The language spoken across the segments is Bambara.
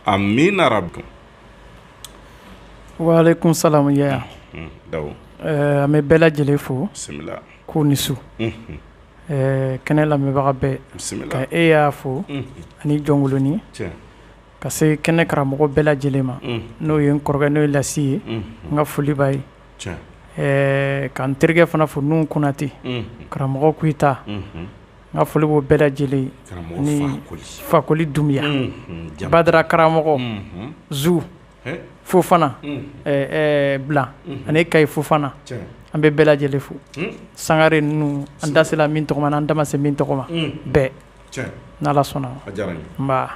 amina yarabi waalekum salamu yaya mm, eh, an bɛ bɛɛ lajɛlen fo k'u ni su mm-hmm. eh, kɛnɛ lamɛnbaga bɛɛ ka e yaya fo mm-hmm. ani jɔnkolonin ka se kɛnɛ karamɔgɔ bɛɛ lajɛlen ma mm-hmm. n'o ye n kɔrɔkɛ n'o ye lasi ye n ka foli b'a ye eh, ka n terikɛ fana fo nuhu konate karamɔgɔ kuyita N ka foli b'o bɛɛ lajɛlen ye, karamɔgɔ Fakoli, ani Fakoli Dunbiya, unhun, Badara karamɔgɔ, unhun, Zu Fofana, unhun, ɛɛ Blan ani Kayi Fofana, tiɲɛ, an bɛ bɛɛ lajɛlen fo, un, Sangare ninnu an da sera min tɔgɔ ma n'an da ma se min tɔgɔ ma, unhun, bɛɛ, tiɲɛ, n'Ala sɔnna, a diyara n ye, nba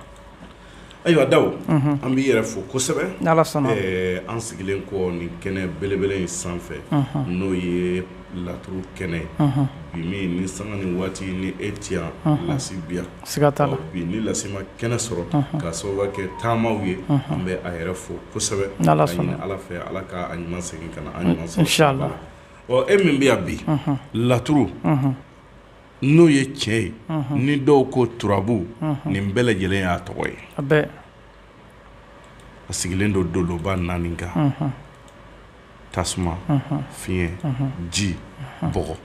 Ayiwa Dawo an b'i yɛrɛ fo kosɛbɛ an sigilen kɔ nin kɛnɛ belebele in sanfɛ n'o ye laturu kɛnɛ ye bi min ni sanga ni waati ni e ti yan lasi bi yan bi ni lasi ma kɛnɛ sɔrɔ k'a sababu kɛ taamaw ye an bɛ a yɛrɛ fo kosɛbɛ ni ala sɔnna ala fɛ ala k'a ɲuman segin ka na an ɲuman sɔrɔ e min bɛ yan bi laturu n'o ye tiɲɛ ye ni dɔw ko turabu nin bɛɛ lajɛlen y'a tɔgɔ ye a sigilen don doloba naani kan tasuma fiɲɛ ji bɔgɔ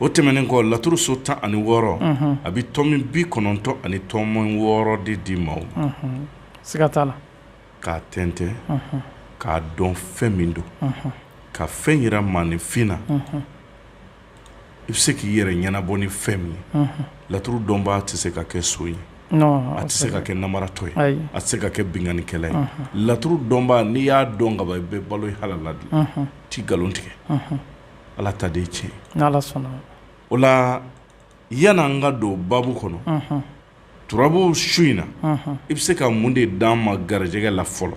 o tɛmɛnen kɔ laturu so tan ani wɔɔrɔ a bɛ tomi bi kɔnɔntɔn ani tomi wɔɔrɔ de di maaw ma siga t'a la k'a tɛntɛn k'a dɔn fɛn min don ka fɛn jira maaninfin na i bɛ se k'i yɛrɛ ɲɛnabɔ ni fɛn min ye laturu dɔnbaa tɛ se ka kɛ son ye a tɛ se ka kɛ namaratɔ ye a tɛ se ka kɛ binkannikɛla ye laturu dɔnbaa n'i y'a dɔn ka ban i bɛ balo i halala de i tɛ nkalon tigɛ ala ta de ye tiɲɛ o la yan n'an ka don baabu kɔnɔ turabu su in na i bɛ se ka mun de d'an ma garijɛgɛ la fɔlɔ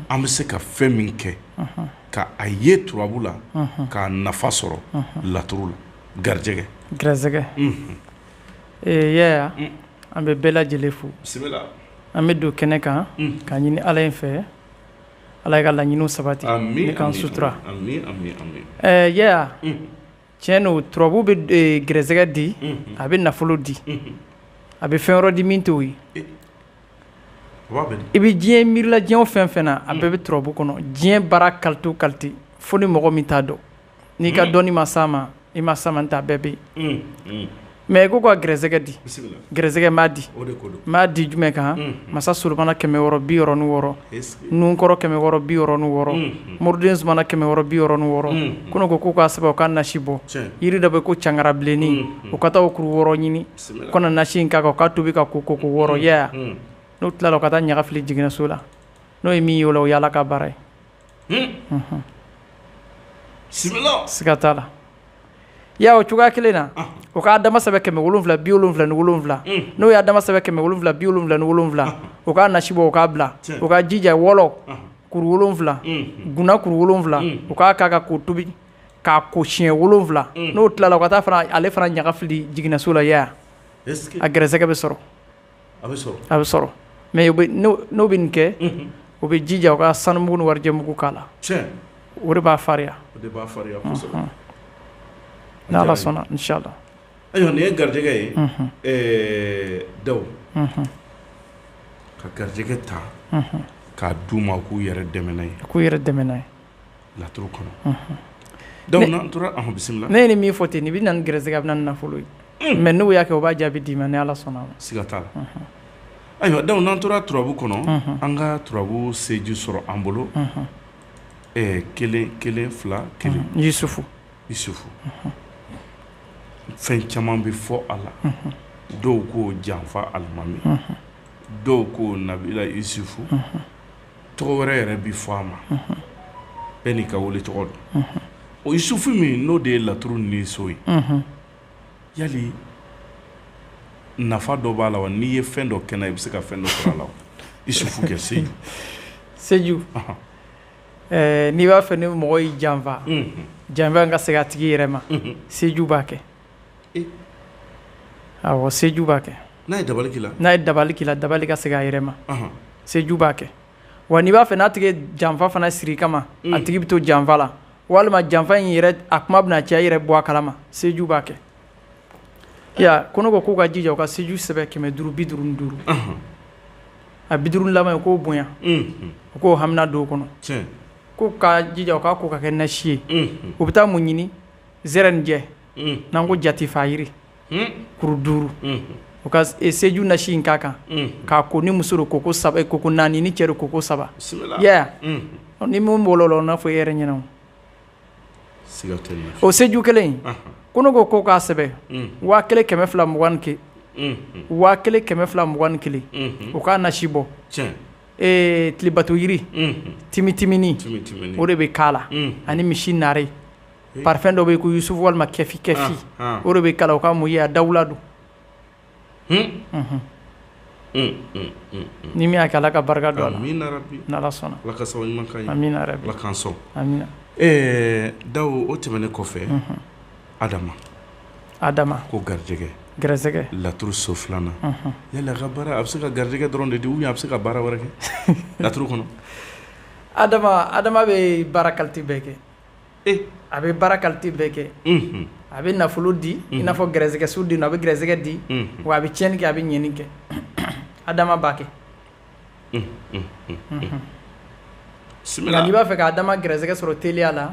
an bɛ se ka fɛn min kɛ ka a ye turabu la k'a nafa sɔrɔ laturu la garijɛgɛ garisɛgɛ yaya an bɛ bɛɛ lajɛlen fo an bɛ don kɛnɛ kan k'a ɲini ala in fɛ ala in ka laɲiniw sabati ni k'an sutura Tiɲɛ don turabu bɛ garisɛgɛ di a bɛ nafolo di a bɛ fɛn wɛrɛ di min t'o ye i bɛ diɲɛ miiri la diɲɛ fɛn fɛn na a bɛɛ bɛ turabu kɔnɔ diɲɛ baara kalite o kalite fo ni mɔgɔ min t'a dɔn n'i ka dɔnni ma s'a ma i ma s'a ma n t'a bɛɛ bɛ yen mɛ ko ka gɛrɛsɛgɛ di gɛrɛsɛgɛ ma di ma di jumɛn kan masa solomana kɛmɛ wɔɔrɔ bi wɔɔrɔ ni wɔɔrɔ nunkɔrɔ kɛmɛ wɔɔrɔ bi wɔɔrɔ ni wɔɔrɔ moriden sumana kɛmɛ wɔɔrɔ bi wɔɔrɔ ni wɔɔrɔ ko ne ko k'u k'a sɛbɛn u k'a nasi bɔ yiri dɔ bɛ ko cangara bilennin u ka taa o kuru wɔɔrɔ ɲini u ka na nasi in k'a kan u k'a tobi ka ko ko ko wɔɔrɔ yaya n'u tilala ka taa ɲaga fili jiginnaso la n'o ye min ye o la o y'ala ka baara ye siga t'a la ya o cogoya kelen na o ka adama sɛbɛn kɛmɛ wolonwula bi wolonwula ni wolonwula n'o y'adama sɛbɛn kɛmɛ wolonwula bi wolonwula ni wolonwula o k'a nasi bɔ o k'a bila o ka jija wɔlɔ kuru wolonwula guna kuru wolonwula o k'a k'a kan k'o tobi k'a ko siɲɛ wolonwula n'o tilala ka taa ale fana ɲaga fili jiginnaso la yaya a gɛrɛsɛgɛ bɛ sɔrɔ a bɛ sɔrɔ mɛ n'o bɛ nin kɛ o bɛ jija u ka sanu mugu ni warijɛ mugu k'a la o de b'a farinya n' ala sɔnna inshallah ayiwa nin ye garijɛgɛ ye dawo ka garijɛgɛ ta k'a d'u ma k'u yɛrɛ dɛmɛ n'a ye laturu kɔnɔ dawo n'an tora an bisimila ne ye nin min fɔ ten nin bɛ na ni gɛrɛsɛgɛ a bɛ na ni nafolo ye mɛ n'o y'a kɛ o b'a jaabi d'i ma ni ala sɔnna a ma siga t'a la ayiwa dawo n'an tora turabu kɔnɔ an ka turabu seju sɔrɔ an bolo kelen kelen fila kelen yusufu yusufu fɛn caman bɛ fɔ a la dɔw ko janfa alimami dɔw ko nabila yusufu tɔgɔ wɛrɛ yɛrɛ bɛ fɔ a ma bɛɛ n'i ka wele tɔgɔ don yusufu min n'o de ye laturu ni so ye yali nafa dɔ b'a la wa n'i ye fɛn dɔ kɛ n'a ye i bɛ se ka fɛn dɔ sɔrɔ a la wa yusufu kɛ seju seju n'i b'a fɛ ni mɔgɔ y'i janfa janfa ka segin a tigi yɛrɛ ma seju b'a kɛ seju b'a kɛ n'a ye dabali k'i la dabali ka segin a yɛrɛ ma seju b'a kɛ wa n'i b'a fɛ n'a tigi janfa fana siri i kama a tigi bɛ to janfa la walima janfa in yɛrɛ a kuma bɛna caya i yɛrɛ bɔ a kalama seju b'a kɛ ko ne ko k'u ka jija u ka seju sɛbɛn kɛmɛ duuru bi duuru ni duuru a bi duuru laban ye k'o bonya u k'o hami don a kɔnɔ ko ka jija u k'a ko k'a kɛ nasi ye u bɛ taa mun ɲini zɛrɛnjɛ n'an ko jatifa yiri kuru duuru u ka seju nasi in k'a kan k'a ko ni muso don ko ko saba ko ko naani ni cɛ don ko ko saba ni min bolo n'a fɔ e yɛrɛ ɲɛna o seju kelen ko ne ko k'o k'a sɛbɛn waa kelen kɛmɛ fila mugan kɛ waa kelen kɛmɛ fila mugan kelen o k'a nasi bɔ ee tilebato yiri timitiminin o de bɛ k'a la ani misi naare Parifɛn dɔ bɛ yen ko yusufu walima kɛfin kɛfin o de bɛ k'a la o ka mun ye a dawula don ni min y'a kɛ ala ka barika don a la n'ala sɔnna dawu o tɛmɛnen kɔfɛ adama adama ko garijɛgɛ gɛrɛsɛgɛ laturu so filanan yala a bɛ se ka garijɛgɛ dɔrɔn de di a bɛ se ka baara wɛrɛ kɛ laturu kɔnɔ adama adama bɛ baara kalite bɛɛ kɛ a bɛ baara kalite bɛɛ kɛ a bɛ nafolo di i n'a fɔ gɛrɛsɛgɛso di a bɛ gɛrɛsɛgɛ di wa a bɛ tiɲɛni kɛ a bɛ ɲɛni kɛ adama b'a kɛ n'i b'a fɛ ka adama gɛrɛsɛgɛ sɔrɔ teliya la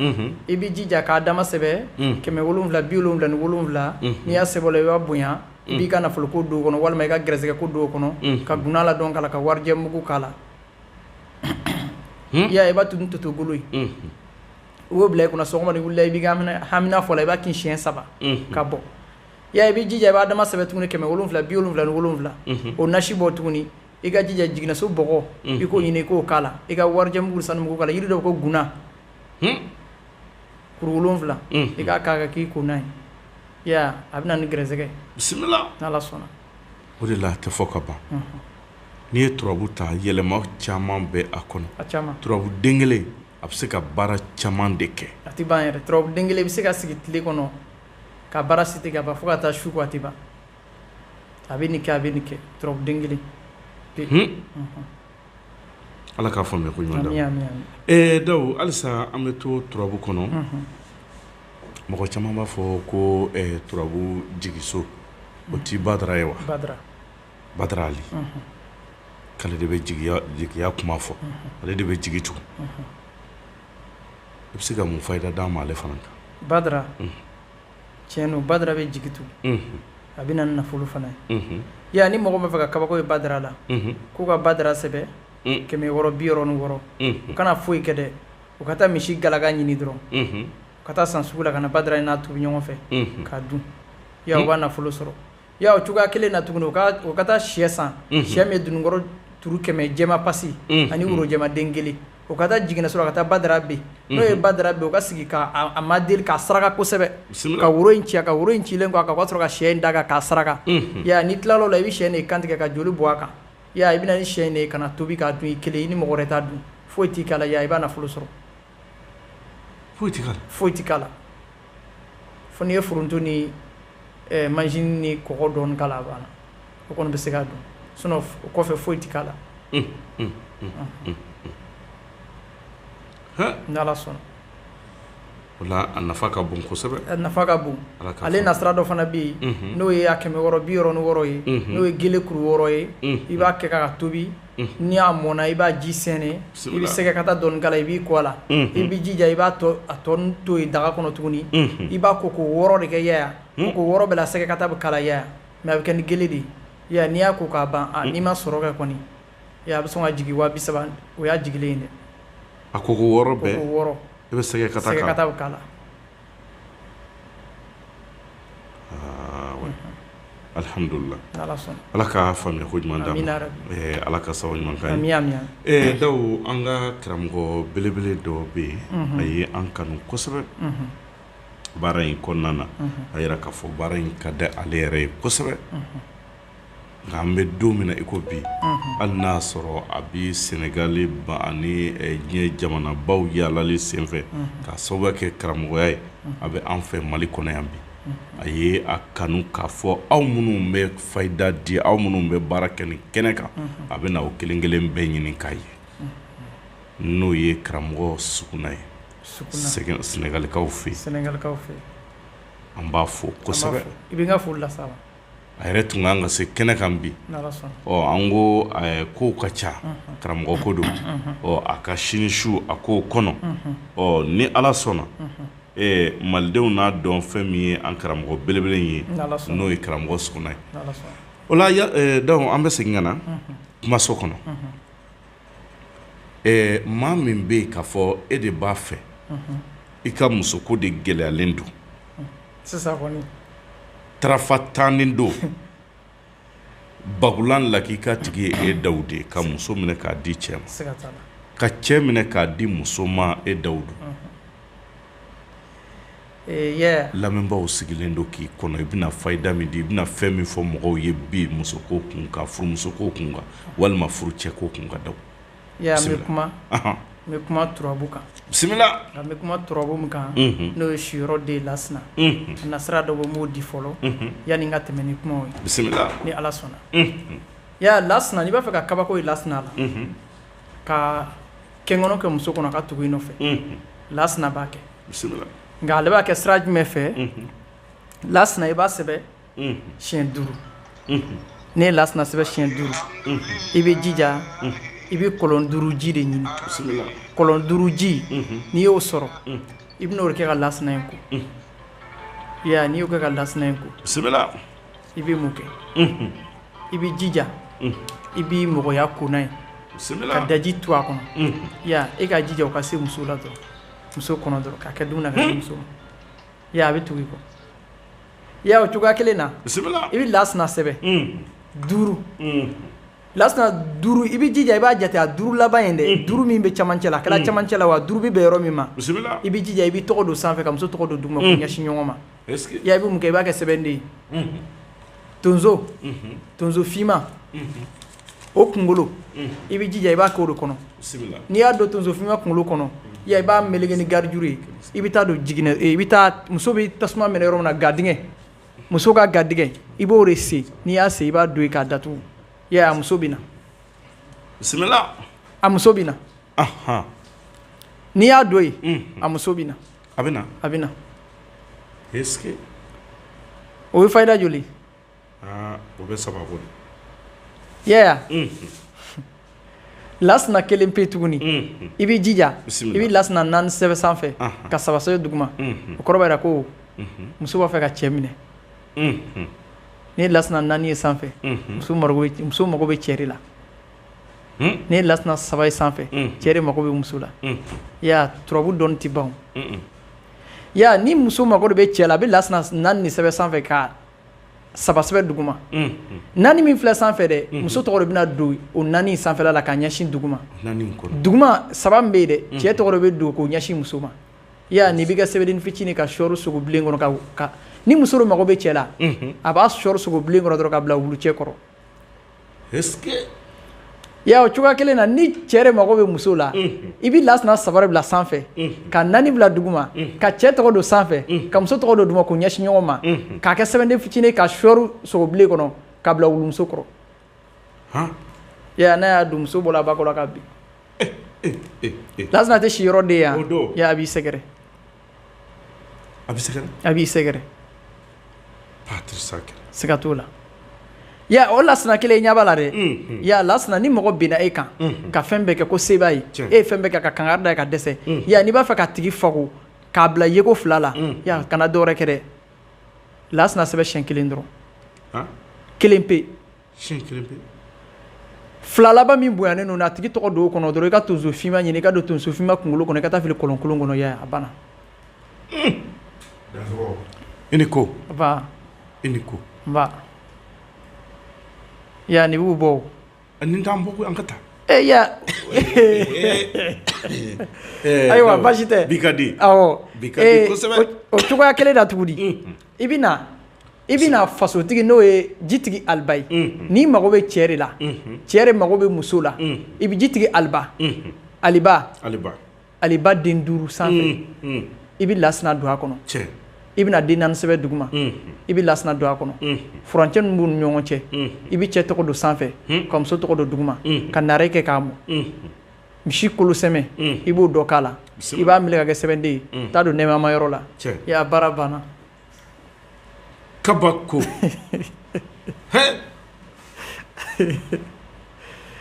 i b'i jija ka adama sɛbɛ kɛmɛ wolonwula bi wolonwula ni wolonwula n'i y'a sɛbɛ o la i b'a bonya i b'i ka nafolo ko don o kɔnɔ walima i ka gɛrɛsɛgɛ ko don o kɔnɔ ka guna la dɔn k'a la ka warijɛ mugu k'a la Hmm? ya i b'a tunu toto golo ye hmm. u b'o bila i kunna sɔgɔma ni wulila i b'i ka hamina fɔ a la i b'a kin siɲɛ saba hmm. ka bɔ ya i b'i jija i bɛ adama sɛbɛ tuguni kɛmɛ wolonwula bi wolonwula ni wolonwula o nasi bɔ tuguni i ka jija jiginaso bɔgɔ i k'o ɲini i k'o k'a la i ka warijɛmugu sanumugu k'a la yiri dɔ ko guna kuru wolonwula i k'a k'a kan k'i ko n'a ye ya a bɛ na ni gɛrɛsɛgɛ bisimila n'ala sɔnna o de la a tɛ fɔ ka ban n'i ye turabu ta yɛlɛma caman bɛ a kɔnɔ turabu den kelen a bɛ se ka baara caman de kɛ a tɛ ban yɛrɛ turabu den kelen bɛ se ka sigi tile kɔnɔ ka baara sigi ka ban fo ka taa su ko a tɛ ban a bɛ nin kɛ a bɛ nin kɛ turabu den kelen ala k'a faamuya ko ɲuman da dawu halisa an bɛ to turabu kɔnɔ mɔgɔ caman b'a fɔ ko turabu jigiso o tɛ badara ye wa badara ali k'ale de bɛ jigiya kuma fɔ ale de bɛ jigi tugun i bɛ se ka mun fayida d'an ma ale fana kan badara tiɲɛ don badara bɛ jigi tugun a bɛ na ni nafolo fana ye ya ni mɔgɔ b'a fɛ ka kabako ye badara la k'u ka badara sɛbɛ kɛmɛ wɔɔrɔ bi wɔɔrɔ ni wɔɔrɔ u kana foyi kɛ dɛ u ka taa misi galaka ɲini dɔrɔn u ka taa san sugu la ka na badara n'a tobi ɲɔgɔn fɛ k'a dun ya u b'a nafolo sɔrɔ Ya o cogoya kelen na tuguni u u ka taa shɛ san shɛ min ye dununkɔrɔ turu kɛmɛ jɛma pasi ani woro jɛma den kelen u ka taa jiginaso la ka taa badara bin n'u ye badara bin u ka sigi k'a madeli k'a saraka kosɛbɛ ka woro in ci ka woro in cilen k'a kan ka sɔrɔ ka shɛ in da a kan k'a saraka ya n'i tilala i bɛ shɛ de kantigɛ ka joli bɔ a kan ya i bɛna ni shɛ de ye k'a tobi k'a dun i kelen i ni mɔgɔ wɛrɛ t'a dun foyi t'i kala i b'a nafolo sɔrɔ foyi tɛ k'a la foyi tɛ k'a la fo n'i ye foronto ni manzini ni kɔgɔ dɔɔni k'a la a banna o kɔni bɛ se k'a dun sinon o kɔfɛ foyi tɛ k'a la n'Ala sɔnna o la a nafa ka bon kosɛbɛ a nafa ka bon ale nasira dɔ fana bɛ yen n'o ye a kɛmɛ wɔɔrɔ bi wɔɔrɔ ni wɔɔrɔ ye n'o ye gele kuru wɔɔrɔ ye i b'a kɛ ka tobi. n'a mɔna i b'a ji sɛnɛ i bɛ sɛgɛ kata dɔɔni k'a la i b'i ko a la i b'i jija i b'a tɔ to yen daga kɔnɔ tuguni i b'a ko ko wɔɔrɔ de kɛ Yaya ko wɔɔrɔ bɛɛ la sɛgɛ kata bɛ k'a la Yaya mɛ a bɛ kɛ ni gele de ye n'i y'a ko k'a ban n'i ma sɔrɔ kɛ kɔni a bɛ sɔn ka jigin waa saba o y'a jigilen ye dɛ a ko wɔɔrɔ bɛɛ wɔɔrɔ i bɛ sɛgɛ k'a la Alihamdulila ala ka faamuya ko ɲuman d'an ma ala ka sababu ɲuman k'an ye Dawu an ka karamɔgɔ belebele dɔ bɛ yen a ye an kanu kosɛbɛ baara in kɔnɔna na a yira k'a fɔ baara in ka di ale yɛrɛ ye kosɛbɛ nka an bɛ don min na i ko bi hali n'a sɔrɔ a bɛ sɛnɛgali ban ani diɲɛ jamanabaw yaalali senfɛ ka sababu kɛ karamɔgɔya ye a bɛ an fɛ mali kɔnɔ yan bi a ye a kanu k'a fɔ aw minnu bɛ fayida di aw minnu bɛ baara kɛ nin kɛnɛ kan a bɛ na o kelen kelen bɛɛ ɲini k'a ye n'o ye karamɔgɔ Sukuna ye sɛnɛgalikaw fɛ yen sɛnɛkaw fɛ an b'a fo kosɛbɛ i bɛ foli la a yɛrɛ tun kan ka se kɛnɛ kan bi an ko kow ka ca karamɔgɔ ko don ɔ a ka sini su a k'o kɔnɔ ɔ ni ala sɔnna malidenw n'a dɔn fɛn min ye an karamɔgɔ belebele ye n'o ye karamɔgɔ Sukuna ye o la Dawu an bɛ segin ka na kumaso kɔnɔ maa min bɛ yen k'a fɔ e de b'a fɛ i ka muso ko de gɛlɛyalen don tarafa tannen don bagulan la k'i ka tigi ye e Dawu de ka muso minɛ k'a di cɛ ma ka cɛ minɛ k'a di muso ma e Dawu don lamɛnbaaw sigilen don k'i kɔnɔ i bɛna fayida min di i bɛna fɛn min fɔ mɔgɔw ye bi muso ko kun kan furumuso ko kun kan walima furucɛ ko kun kan Dawu Yaya n bɛ kuma n bɛ kuma turabu kan bisimila n bɛ kuma turabu min kan n'o ye siyɔrɔ den lasina nasira dɔ bɛ n b'o di fɔlɔ yanni n ka tɛmɛ ni kumaw ye bisimila ni ala sɔnna Yaya lasina n'i b'a fɛ ka kabako ye lasina la ka kɛkɔnɔ kɛ muso kɔnɔ ka tugu i nɔfɛ lasina b'a kɛ bisimila nka ale b'a kɛ sira jumɛn fɛ lasina i b'a sɛbɛ siyɛn duuru n'i ye lasina sɛbɛn siyɛn duuru i bɛ jija i bɛ kɔlɔn duuru ji de ɲini kɔlɔn duuru ji n'i y'o sɔrɔ i bɛn'o de kɛ ka lasina in ko n'i y'o kɛ ka lasina in ko i bɛ mun kɛ i bɛ jija i bɛ mɔgɔya kona ye ka daji tu a kɔnɔ i ka jija o ka se muso la dɔrɔn muso kɔnɔ dɔrɔn k'a kɛ dumuni na muso a bɛ tugu i kɔ I y'a ye o cogoya kelen na, bisimila, i bɛ lasina sɛbɛn, unhun, duuru, unhun, lasina duuru i bɛ jija i b'a jate a duuru laban in dɛ duuru min bɛ cɛmancɛ la a kɛra cɛmancɛ la wa duuru bɛ bɛn yɔrɔ min ma, bisimila, i bɛ jija i bɛ tɔgɔ don sanfɛ ka muso tɔgɔ don duguma k'u ɲɛsin ɲɔgɔn ma, est-ce que , i y'a ye i bɛ mun kɛ i b'a kɛ sɛbɛnden ye, unhun, tonso, unhun, tonso finman, unhun o kunkolo i bɛ jija i b'a k'o de kɔnɔ n'i y'a don tonso finman kunkolo kɔnɔ i b'a meleke ni garijuru ye i bɛ taa don jigin i bɛ muso bɛ tasuma minɛ yɔrɔ min na gadingɛ muso ka gadingɛ i b'o de sen n'i y'a sen i b'a don i k'a datugu a muso bɛ na a muso bɛ na n'i y'a don yen a muso bɛ na a bɛ a bɛ na o ye fayida joli lasina kelen pe tuguni i bɛ jija i bɛ lasina naani sɛbɛn sanfɛ ka saba sɛbɛn duguma o kɔrɔ b'a yira ko muso b'a fɛ ka cɛ minɛ ni lasina naani ye sanfɛ muso mago bɛ cɛ la ni lasina saba ye sanfɛ cɛ mako bɛ muso la turabu dɔn tɛ ban ni muso mako de bɛ cɛ la a bɛ lasina naani nin sɛbɛn sanfɛ ka saba sɛbɛn duguma naani min filɛ sanfɛ dɛ muso tɔgɔ de bɛna don o naani sanfɛla la ka ɲɛsin duguma duguma saba min bɛ yen dɛ cɛ tɔgɔ de bɛ don k'o ɲɛsin muso ma i y'a ye nin bɛ kɛ sɛbɛnden fitinin ka sɔɔri sogo bilen kɔnɔ ni muso de mago bɛ cɛ la a b'a sɔɔri sogo bilen kɔnɔ dɔrɔn ka bila wulucɛ kɔrɔ ya o cogoya kelen na ni cɛ de mago bɛ muso la i bɛ lasina saba de bila sanfɛ ka naani bila duguma ka cɛ tɔgɔ don sanfɛ ka muso tɔgɔ don duguma k'u ɲɛsin ɲɔgɔn ma k'a kɛ sɛbɛnden fitinin ka sɔɔri sogo bilen kɔnɔ ka bila wulumuso kɔrɔ ya n'a y'a dun muso bɔra a ba kɔrɔ ka bin lasina tɛ si yɔrɔ de yan a b'i sɛgɛrɛ A b'i sɛgɛrɛ siga t'o la o lasina kelen ɲɛ b'a la dɛ ya lasina ni mɔgɔ binna e kan ka fɛn bɛɛ kɛ ko se b'a ye e ye fɛn bɛɛ kɛ ka kangari da a ye ka dɛsɛ ya n'i b'a fɛ k'a tigi fako k'a bila yeko fila la kana dɔwɛrɛ kɛ dɛ lasina sɛbɛn siyɛn kelen dɔrɔn kelen pe fila laban min bonyanen don a tigi tɔgɔ don o kɔnɔ dɔrɔn i ka tonso finman ɲini i k'a don tonso finman kunkolo kɔnɔ ka taa fili kɔlɔn kolon kɔnɔ a banna i ni ko i ni ko yan ni b'u bɔ ni an an ka taa e ayiwa baasi tɛ bi ka di o cogoya kelen da tuguni di I bɛna i bɛna fasotigi n'o ye jitigi aliba ye n'i mago bɛ cɛ de la cɛ de mago bɛ muso la i bɛ jitigi aliba ali aliba den duuru sanfɛ i bɛ lasina don a kɔnɔ i bɛna den naani sɛbɛn duguma i bɛ lasina don a kɔnɔ furancɛ min b'u ni ɲɔgɔn cɛ i bɛ cɛ tɔgɔ don sanfɛ ka muso tɔgɔ don duguma ka naare kɛ k'a mɔ misi kolosɛmɛ i b'o dɔ k'a la i b'a minɛ ka kɛ sɛbɛnden ye t'a don nɛmama yɔrɔ la i y'a baara banna kabako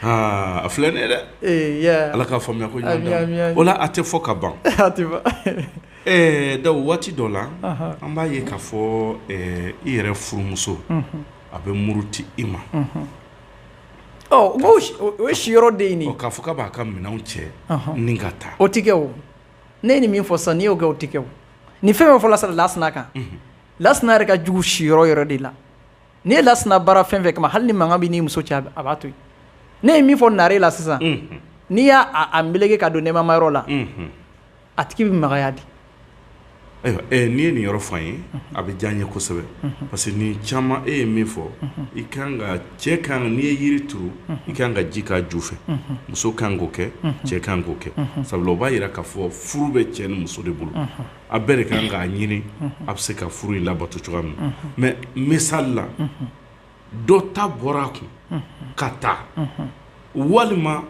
a filɛ ne dɛ ala k'a faamuya ko o a tɛ fɔ ka ban da waati dɔ la an b'a ye k'a fɔ i yɛrɛ furumuso a bɛ muruti i ma o ye si yɔrɔ de nin ye k'a fɔ k'a b'a ka minɛnw cɛ ni ka taa o tɛ kɛ o ne ye nin min fɔ sisan n'i y'o kɛ o tɛ kɛ o nin fɛn fɛn fɔla sisan lasina kan lasina yɛrɛ ka jugu si yɔrɔ yɛrɛ de la n'i ye lasina baara fɛn fɛn kama hali ni mankan b'i n'i muso cɛ a b'a to yen ne ye min fɔ naare la sisan n'i y'a meleke k'a don nɛmama yɔrɔ la A tigi bɛ magaya dɛ. Ayiwa ɛɛ n'i ye nin yɔrɔ fɔ an ye. Unhun. A bɛ diya an ye kosɛbɛ. Unhun. Parce que nin caman e ye min fɔ. Unhun. I ka kan ka cɛ ka kan ka n'i ye yiri turu. Unhun. I ka kan ka ji k'a ju fɛ. Unhun. Muso ka kan k'o kɛ. Unhun. Cɛ ka kan k'o kɛ. Unhun. Sabula o b'a yira k'a fɔ furu bɛ cɛ ni muso de bolo. Unhun. A bɛɛ de ka kan k'a ɲini. Unhun. A bɛ se ka furu in labato cogoya min na. Unhun. Mais misali la. Unhun. dɔ ta bɔra a kun ka taa walima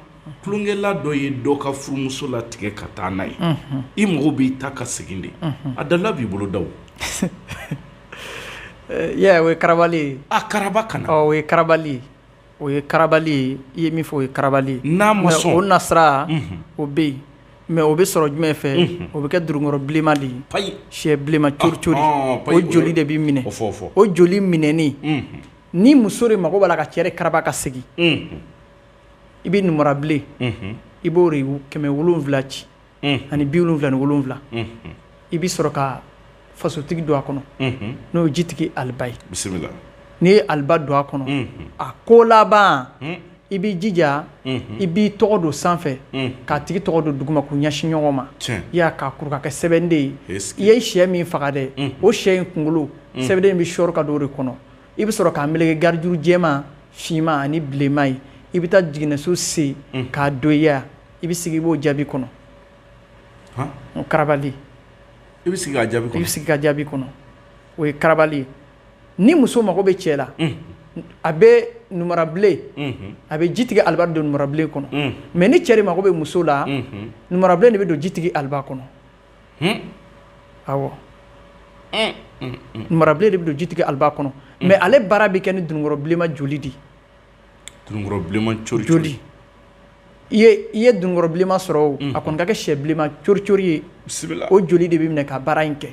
tulonkɛla dɔ ye dɔ ka furumuso latigɛ ka taa n'a ye i mago b'i ta ka segin de a dalili b'i bolo da ye o ye karabali ye a karaba ka na o ye karabali ye o ye karabali ye i ye min fɔ o ye karabali ye n'a ma sɔn o nasira o bɛ yen mais o bɛ sɔrɔ jumɛn fɛ o bɛ kɛ durunkɔrɔ bilenma de ye shɛ bilenma cori cori o joli de bɛ minɛ o joli minɛnen ni muso de mago b'a la ka cɛ de karaba ka segin i bɛ numara bilen i b'o de kɛmɛ wolonwula ci ani bi wolonwula ni wolonwula i bɛ sɔrɔ ka fasotigi don a kɔnɔ n'o ye jitigi aliba ye bisimila n'i ye aliba don a kɔnɔ a ko laban i bɛ jija i b'i tɔgɔ don sanfɛ k'a tigi tɔgɔ don duguma k'u ɲɛsin ɲɔgɔn ma i y'a k'a kuru ka kɛ sɛbɛnden ye i ye sɛ min faga dɛ o sɛ in kunkolo sɛbɛnden bɛ sɔrɔ ka don o de kɔnɔ i bɛ sɔrɔ k'a meleke garijuru jɛma finma ani bilenma ye i bɛ taa jiginɛso sen k'a don yan i bɛ sigi i b'o jaabi kɔnɔ karabali ye i bɛ sigi ka jaabi kɔnɔ o ye karabali ye ni muso mago bɛ cɛ la a bɛ numara bilen a bɛ jitigi aliba don numara bilen kɔnɔ mɛ ni cɛ de mako bɛ muso la numara bilen de bɛ don jitigi aliba kɔnɔ awɔ numara bilen de bɛ don jitigi aliba kɔnɔ mɛ ale baara bɛ kɛ ni dununkɔrɔ bilenma joli de joli i ye dununkɔrɔ bilenma sɔrɔ a kɔni ka kɛ sɛ bilenma coricori ye o joli de bɛ minɛ ka baara in kɛ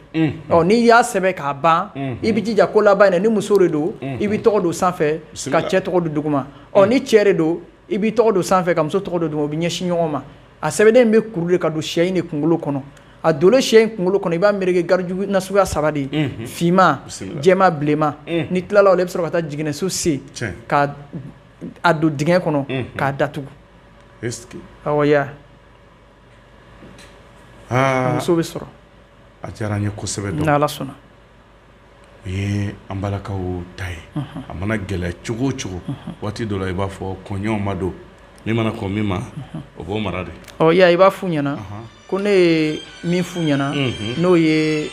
ɔ n'i y'a sɛbɛn k'a ban i bɛ jija ko laban in na ni muso de don i b'i tɔgɔ don sanfɛ ka cɛ tɔgɔ don duguma ɔ ni cɛ de don i b'i tɔgɔ don sanfɛ ka muso tɔgɔ don duguma o bɛ ɲɛsin ɲɔgɔn ma a sɛbɛnden in bɛ kuru de ka don sɛ in de kunkolo kɔnɔ a dolen sɛ in kunkolo kɔnɔ i b'a meleke garijuru na suguya saba de ye finma jɛma bilenma n'i tilala o la i bɛ sɔrɔ ka taa jiginɛso sen ka a don dingɛ kɔnɔ k'a datugu muso bɛ sɔrɔ a diyara n ye kosɛbɛ don n'ala sɔnna o ye an balakaw ta ye a mana gɛlɛya cogo o cogo waati dɔ la i b'a fɔ koɲɛw ma dɔn min mana kɔn min ma o b'o mara de i b'a f'u ɲɛna ko ne ye min f'u ɲɛna n'o ye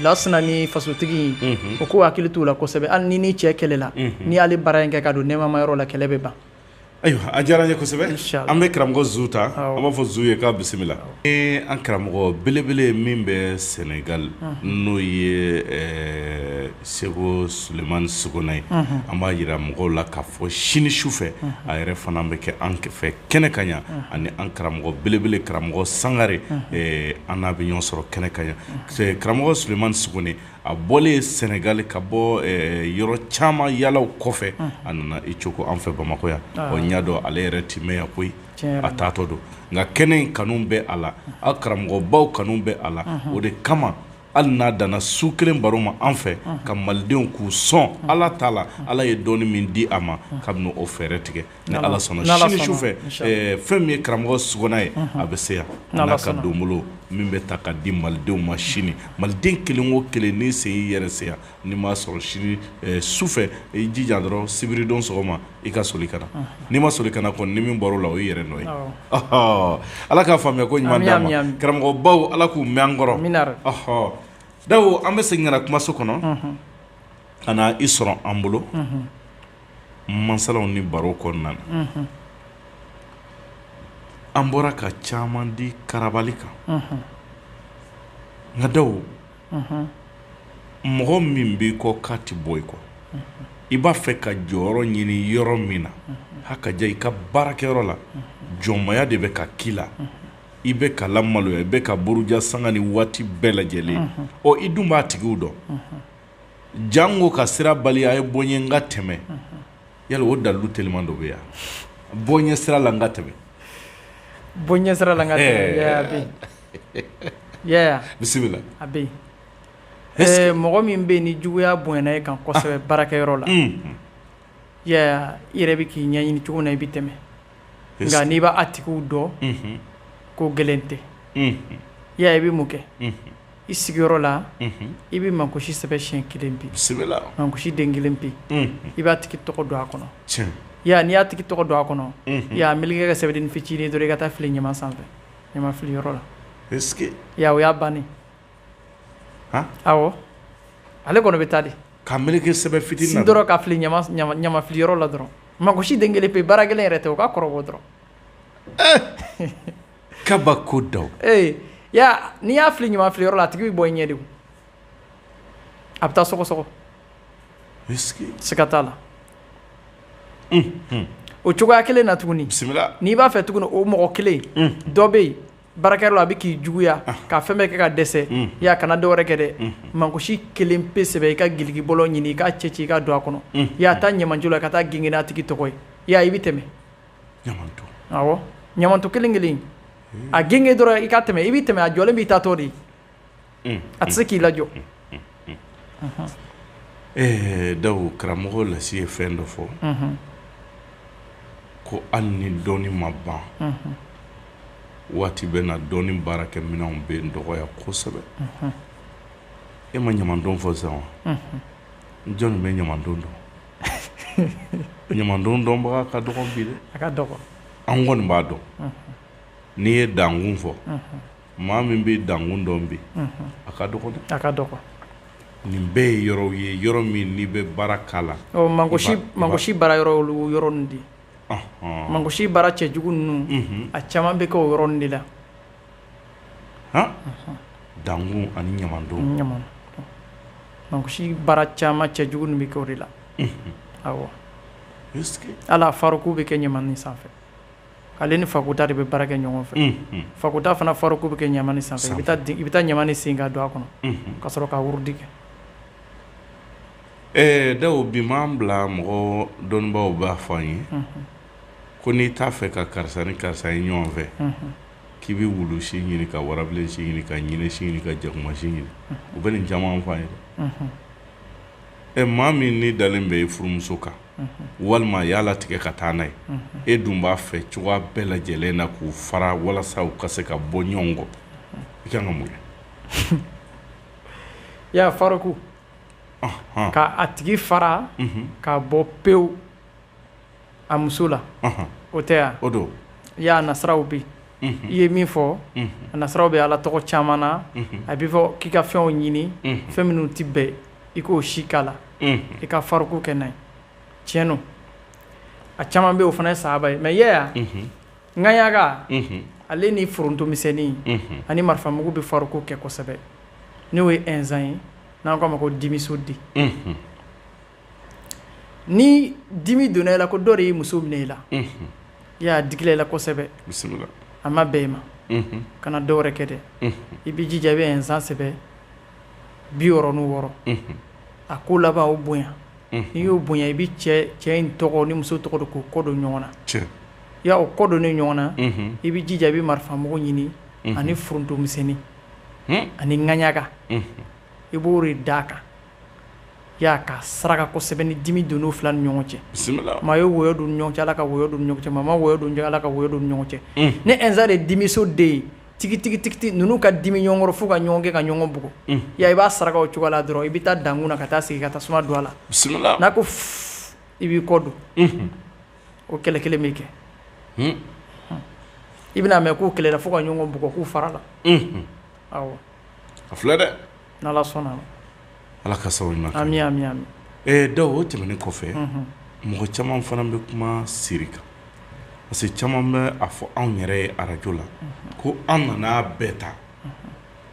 lasina ni fasotigi o ko hakili t'u la kosɛbɛ hali n'i n'i cɛ kɛlɛla n'i y'ale baara in kɛ ka don nɛɛmama yɔrɔ la kɛlɛ bɛ ban ayiwa a diyara n ye kosɛbɛ an bɛ karamɔgɔ zu ta an b'a fɔ zu ye k'a bisimila an karamɔgɔ belebele min bɛ sɛnɛgali n'o ye seku sulemani sogona ye an b'a yira mɔgɔw la ka fɔ sini su fɛ a yɛrɛ fana bɛ kɛ an fɛ kɛnɛ kan yan ani an karamɔgɔ belebele karamɔgɔ sangare an n'a bɛ ɲɔgɔn sɔrɔ kɛnɛ kan yan karamɔgɔ sulemani suguni a bɔlen sɛnɛgali ka bɔ yɔrɔ caman yaalaw kɔfɛ a nana i cogo an fɛ bamakɔ yan ɔ n y'a dɔn ale yɛrɛ tɛ mɛn yan koyi a taatɔ don nka kɛnɛ in kanu bɛ a la a karamɔgɔbaw kanu bɛ a la o de kama hali n'a danna su kelen baro ma an fɛ ka malidenw k'u sɔn ala ta la ala ye dɔɔnin min di a ma ka o fɛɛrɛ tigɛ ni ala sɔnna sini su fɛ fɛn min ye karamɔgɔ sogona ye a bɛ se yan n'a ka donbolo min bɛ ta ka di malidenw ma sini maliden kelen wo kelen n'i sen y'i yɛrɛ se yan n'i m'a sɔrɔ sini su fɛ i jija dɔrɔn sibiridon sɔgɔma i ka soli ka na n'i ma soli ka na kɔni ni min bɔr'o la o y'i yɛrɛ nɔ ye ala k'a faamuya ko ɲuman karamɔgɔ baw ala k'u mɛn an kɔrɔ dawo an bɛ segin ka na kumaso kɔnɔ ka na i sɔrɔ an bolo masalaw ni baro kɔnɔna na an bɔra ka caman di karabali kan nka dawo mɔgɔ min b'i kɔ k'a tɛ bɔ i kɔ i b'a fɛ ka jɔyɔrɔ ɲini yɔrɔ min na hakaja i ka baarakɛyɔrɔ la jɔnmaya de bɛ ka k'i la i bɛ ka lamaloya i bɛ ka buruja sanga ni waati bɛɛ lajɛlen ɔ i dun b'a tigiw dɔn Janko ka sira bali a ye bɔ yen n ka tɛmɛ yala o dalilu teliman dɔ bɛ yan bɔ n ɲɛ sira la n ka tɛmɛ bɔ n ɲɛ sira la ka bisimila a bɛ yen mɔgɔ min bɛ yen ni juguya bonyana e kan kosɛbɛ baarakɛyɔrɔ la yaya i yɛrɛ bɛ k'i ɲɛɲini cogo min na i bɛ tɛmɛ nka n'i b'a tigiw dɔn ko gɛlɛn tɛ yaya i bɛ mun kɛ i sigiyɔrɔ la i bɛ mangosi sɛbɛn siɲɛ kelen pe mangosi den kelen pe i b'a tigi tɔgɔ don a kɔnɔ ya n'i y'a tigi tɔgɔ don a kɔnɔ y'a meleke sɛbɛn fitinin dɔrɔn i ka taa fili ɲama sanfɛ ɲama fili yɔrɔ la ya o y'a ban awɔ ale kɔni bɛ taa de k'a meleke sɛbɛn fitinin dɔrɔn ka fili ɲama fili yɔrɔ la dɔrɔn mangosi den kelen pe baara kelen yɛrɛ tɛ o k'a kɔrɔbɔ dɔrɔn kabako don ee ya n'i y'a fili ɲama filiyɔrɔ la a tigi bɛ bɔ i ɲɛ de o a bɛ taa sɔgɔsɔgɔ siga t'a la o cogoya kelen na tuguni bisimila n'i b'a fɛ tuguni o mɔgɔ kelen dɔ bɛ yen baarakɛyɔrɔ la a bɛ k'i juguya ka fɛn bɛɛ kɛ ka dɛsɛ yaya kana dɔ wɛrɛ kɛ dɛ mangosi kelen pe sɛbɛn i ka giliki bɔlɔ ɲini i k'a cɛ ci i k'a don a kɔnɔ yaya taa ɲamanton la ka taa gengen n'a tigi tɔgɔ ye i y'a ye i bɛ tɛmɛ ɲamanton kelen kelen a gengen dɔrɔn i ka tɛmɛ i bɛ tɛmɛ a jɔlen b'i ta tɔ de a tɛ se k'i lajɔ ɛɛ dawo karamɔgɔ lasi ye fɛn dɔ fɔ ko hali ni dɔnni ma ban waati bɛ na dɔnni baarakɛminɛnw bɛ dɔgɔya kosɛbɛ e ma ɲamanton fɔ sisan wa jɔnni bɛ ɲamanton dɔn ɲamaton dɔnbaga ka dɔgɔn bi dɛ a ka dɔgɔn an kɔni b'a dɔn n'i ye dankun fɔ maa min bɛ dankun dɔn bi a ka dɔgɔn dɛ a ka dɔgɔn nin bɛɛ ye yɔrɔw ye yɔrɔ min n'i bɛ baara k'a la ɔ mangosi mangosi baara yɔrɔ olu yɔrɔ ninnu de ye mangosi baara cɛ jugu ninnu a caman bɛ kɛ o yɔrɔ ninnu de la dankun ani ɲamaton mangosi baara caman cɛ jugu ninnu bɛ kɛ o de la ala faruku bɛ kɛ ɲamani sanfɛ ale ni fada de bɛ baara kɛ ɲɔgɔn fɛ fada fana faruku bɛ kɛ ɲamani sanfɛ i bɛ taa ɲamani sen ka don a kɔnɔ ka sɔrɔ ka wurudi kɛ ɛɛ da bi m'an bila mɔgɔ dɔnnibaw b'a fɔ an ye ko n'i t'a fɛ ka karisa ni karisa ye ɲɔgɔn fɛ k'i bɛ wulu si ɲini ka warabilen si ɲini ka ɲinɛ si ɲini ka jakuma si ɲini u bɛ nin caman f'an ye ɛ maa min ni dalen bɛ i furumuso kan walima a y'a latigɛ ka taa n'a ye e dun b'a fɛ cogoya bɛɛ lajɛlen na k'u fara walasa u ka se ka bɔ ɲɔgɔn kɔ i kan ka mun kɛ i y'a faruku k'a tigi fara k'a bɔ pewu a muso la o tɛ yan o don i y'a nasiraw bi i ye min fɔ a nasiraw bɛ ala tɔgɔ caman na a bɛ fɔ k'i ka fɛnw ɲini fɛn minnu tɛ bɛn i k'o si k'a la i ka faruku kɛ n'a ye tiɲɛn don a caman bɛ o fana ye saba ye mɛ ŋaɲaga ale ni foronto misɛnnin ani marifa mugu bɛ faruku kɛ kosɛbɛ n'o ye insa ye n'an k'a ma ko dimiso den ni dimi donna e la ko dɔ de ye muso minɛ e la y'a digila e la kosɛbɛ a ma bɛn e ma kana dɔ wɛrɛ kɛ dɛ i bɛ jija i bɛ insa sɛbɛ bi wɔɔrɔ ni wɔɔrɔ a ko laban o bonya n'i y'o bonya i bɛ cɛ in tɔgɔ ni muso tɔgɔ don k'o kɔ don ɲɔgɔn na y' o kɔ don ni ɲɔgɔn na i bɛ jija i bɛ marifa mugu ɲini ani foronto misɛnnin ani ŋaɲaga i b'o de da a kan y'a ka saraka kosɛbɛ ni dimi don u fila ni ɲɔgɔn cɛ maa ye wɔyɔ don ɲɔgɔn cɛ ala ka wɔyɔ don ɲɔgɔn cɛ maa ma wɔyɔ don ala ka wɔyɔ don ɲɔgɔn cɛ ni insa de dimiso den ye tigitigitigi ninnu ka dimi ɲɔgɔn kɔrɔ fo ka ɲɔgɔn kɛ ka ɲɔgɔn bugɔ i b'a saraka o cogo la dɔrɔn i bɛ taa dankun na ka taa sigi ka taa tasuma don a la n'a ko i b'i kɔ don o kɛlɛ kelen bɛ kɛ i bɛna mɛn k'u kɛlɛla fo ka ɲɔgɔn bugɔ k'u farala a filɛ dɛ sɔnna ala ka sababu Daw o tɛmɛnen kɔfɛ mɔgɔ caman fana bɛ kuma siri kan parce que caman bɛ a fɔ anw yɛrɛ ye arajo la ko an nana bɛɛ ta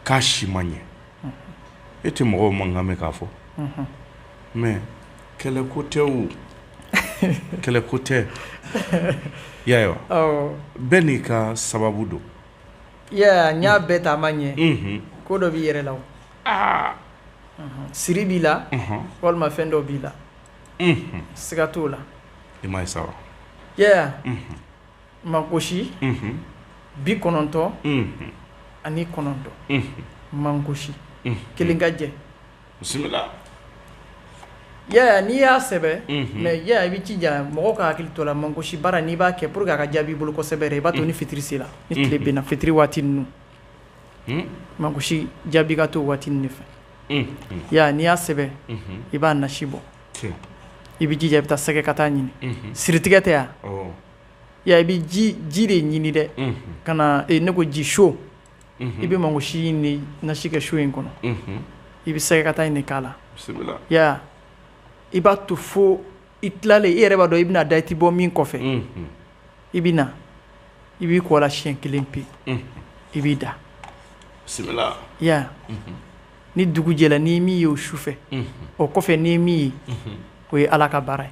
k'a si ma ɲɛ e tɛ mɔgɔw mankan mɛn k'a fɔ mais kɛlɛ ko tɛ o kɛlɛ ko tɛ ya bɛɛ n'i ka sababu don Yaya n y'a bɛɛ ta a ma ɲɛ ko dɔ b'i yɛrɛ la siri b'i la walima fɛn dɔ b'i la siga t'o la i ma saba Yaya mankosi bi kɔnɔntɔn ani kɔnɔntɔn mankosi kelen ka jɛ bisimila Yaya n'i y'a sɛbɛ mais Yaya i b'i jija mɔgɔ ka hakili to la mankosi baara n'i b'a kɛ pour que a ka jaabi i bolo kosɛbɛ i b'a to ni fitiri sela ni tile binna fitiri waati ninnu mankosi jaabi ka to waati nin de fɛ Yaya n'i y'a sɛbɛ i b'a nasi bɔ i b'i jija i bɛ taa sɛgɛkata ɲini siritigɛ tɛ yan ya i bɛ ji de ɲini dɛ ka na ne ko ji so i bɛ mankosi nin nasi kɛ so in kɔnɔ i bɛ sɛgɛkata nin k'a la i b'a to fo i tilalen i yɛrɛ b'a dɔn i bɛna da i tɛ bɔ min kɔfɛ i bɛ na i b'i ko a la siyɛn kelen pe i b'i da ni dugu jɛla n'i min ye o su fɛ o kɔfɛ n'i min ye o ye ala ka baara ye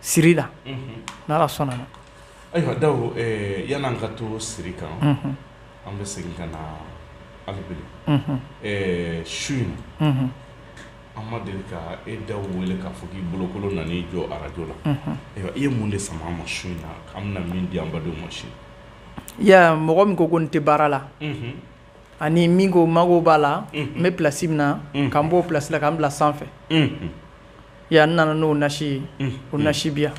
siri la n' ala sɔnna na ayiwa Daw yan'an ka to siri kan an bɛ segin ka na ali bi le su in na an ma deli ka e Daw wele k'a fɔ k'i bolokolo nan'i jɔ arajo la ayiwa i ye mun de sama an ma su in na an bɛna min di an badenw ma su in Yaya mɔgɔ min ko ko n tɛ baara la ani min ko mago b'a la n bɛ plasi min na ka n b'o plasi la ka n bila sanfɛ Yaya n nana n'o nasi ye o nasi bi yan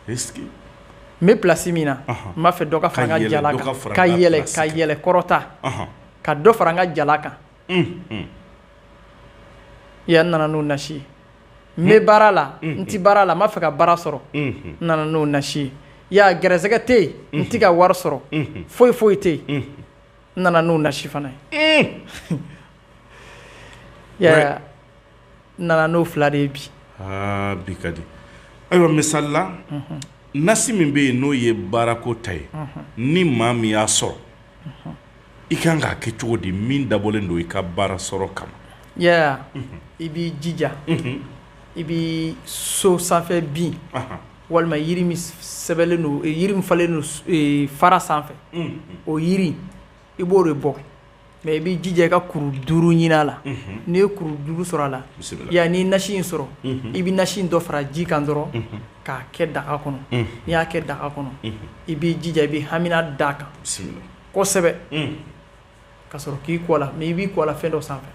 n bɛ plasi min na n b'a fɛ dɔ ka fara n ka jala kan ka yɛlɛ ka yɛlɛ kɔrɔta ka dɔ fara n ka jala kan Yaya n nana n'o nasi ye n bɛ baara la n tɛ baara la n b'a fɛ ka baara sɔrɔ n nana n'o nasi ye Yaya garisɛgɛ tɛ yen n tɛ ka wari sɔrɔ foyi foyi tɛ yen N nana n'o nasi fana ye Yaya n nana n'o fila de ye bi bi ka di ayiwa misali la nasi min bɛ yen n'o ye baarako ta ye ni maa min y'a sɔrɔ i kan k'a kɛ cogo di min dabɔlen don i ka baara sɔrɔ kama Yaya i b'i jija i bɛ so sanfɛ bin walima yiri min sɛbɛlen don yiri min falen don fara sanfɛ o yiri i b'o de bɔ mɛ i b'i jija i ka kuru duuru ɲinin a la n'i ye kuru duuru sɔrɔ a la yan n'i nasi in sɔrɔ i bɛ nasi in dɔ fara ji kan dɔrɔn k'a kɛ daga kɔnɔ n'i y'a kɛ daga kɔnɔ i b'i jija i bɛ hamina d'a kan kosɛbɛ ka sɔrɔ k'i ko a la mɛ i b'i ko a la fɛn dɔ sanfɛ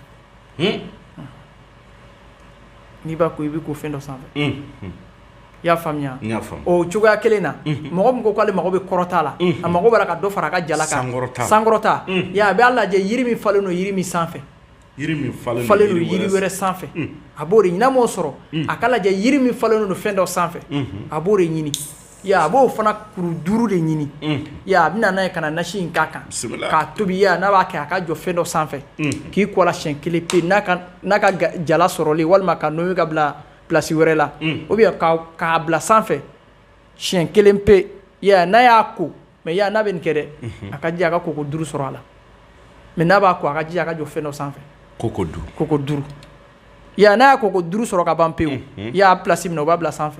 n'i b'a ko i b'i ko fɛn dɔ sanfɛ i y'a faamuya o cogoya kelen na mɔgɔ min ko k'ale mago bɛ kɔrɔta la a mago b'a la ka dɔ fara a ka jala kan sankɔrɔta a b'a lajɛ yiri min falen don yiri min sanfɛ falen don yiri wɛrɛ sanfɛ a b'o de ɲini n'a m'o sɔrɔ a k'a lajɛ yiri min falen don fɛn dɔ sanfɛ a b'o de ɲini A b'o fana kuru duuru de ɲini a bɛ na n'a ye ka na nasi in k'a kan k'a tobi n'a b'a kɛ a ka jɔ fɛn dɔ sanfɛ k'i ko a la siyɛn kelen pe n'a ka jala sɔrɔli walima k'a nommer k'a bila plasi wɛrɛ la ou bien k'a bila sanfɛ siyɛn kelen pe n'a y'a ko mɛ n'a bɛ nin kɛ dɛ a ka jija a ka koko duuru sɔrɔ a la mɛ n'a b'a ko a ka jija a ka jɔ fɛn dɔ sanfɛ koko koko duuru n'a ye koko duuru sɔrɔ ka ban pewu a ye plasi min na o b'a bila sanfɛ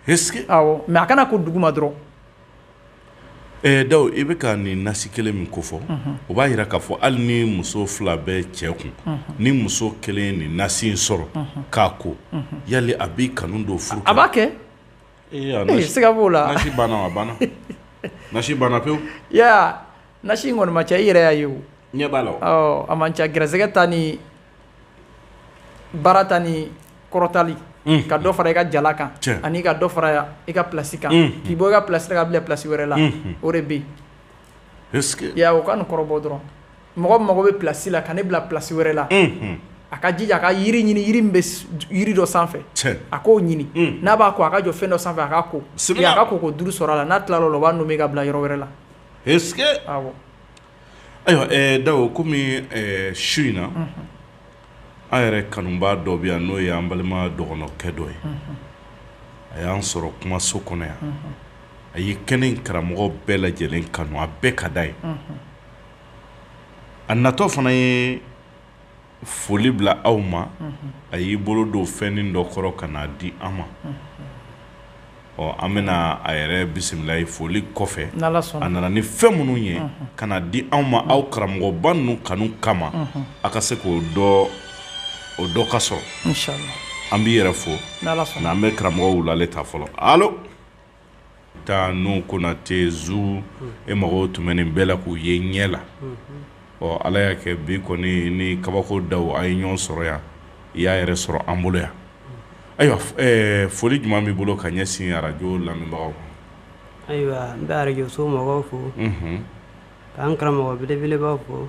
mɛ a kana ko duguma dɔrɔn ɛ Dawu i bɛ ka nin nasi kelen min kofɔ o b'a jira k'a fɔ hali ni muso fila bɛ cɛ kun ni muso kelen ye nin nasi in sɔrɔ k'a ko yali a b'i kanu don furu a b'a kɛ siga b'o la a banna banna pewu nasi in kɔni man ca i yɛrɛ y'a ye i ɲɛ b'a la a man ca gɛrɛsɛgɛ ta ni baara ta ni kɔrɔtali unhun ka dɔ fara i ka jala kan tiɲɛ ani ka dɔ fara i ka place kan unhun k'i bɔ i ka place la k'i bila place wɛrɛ la unhun o de be yen est ce que i y'a ye o ka nin kɔrɔbɔ dɔrɔn mɔgɔ min mago be place la ka ne bila place wɛrɛ la unhun a ka jija a ka yiri ɲini yiri min be yiri dɔ sanfɛ tiɲɛ a k'o ɲini un n'a b'a ko a ka jɔ fɛn dɔ sanfɛ a k'a ko sibila et a ka koko 5 sɔr'a la n'a tilal'o la o b'a nommer k'a bila yɔrɔ wɛrɛ la est ce que awɔ Ayiwa Dawu kɔmi su in na an yɛrɛ kanubaa dɔ bɛ yan n'o ye an balima dɔgɔnɔkɛ dɔ ye a y'an sɔrɔ kumaso kɔnɔ yan a ye kɛnɛ in karamɔgɔw bɛɛ lajɛlen kanu a bɛɛ ka d'a ye a natɔ fana ye foli bila aw ma a y'i bolo don fɛnnin dɔ kɔrɔ ka n'a di an ma ɔ an bɛna a yɛrɛ bisimila ye foli kɔfɛ a nana ni fɛn minnu ye ka na di anw ma aw karamɔgɔba ninnu kanu kama a ka se k'o dɔ o dɔ ka sɔrɔ an b'i yɛrɛ fo n'an bɛ karamɔgɔ Wulale ta fɔlɔ taa n'u konate zu e mago tun bɛ nin bɛɛ la k'u ye ɲɛ la ɔ ala y'a kɛ bi kɔni ni kabako daw a ye ɲɔgɔn sɔrɔ yan i y'a yɛrɛ sɔrɔ an bolo yan ayiwa foli jumɛn b'i bolo ka ɲɛsin arajo lamɛnbagaw ayiwa n bɛ arajoso mɔgɔw fo k'an karamɔgɔ belebelebaw fo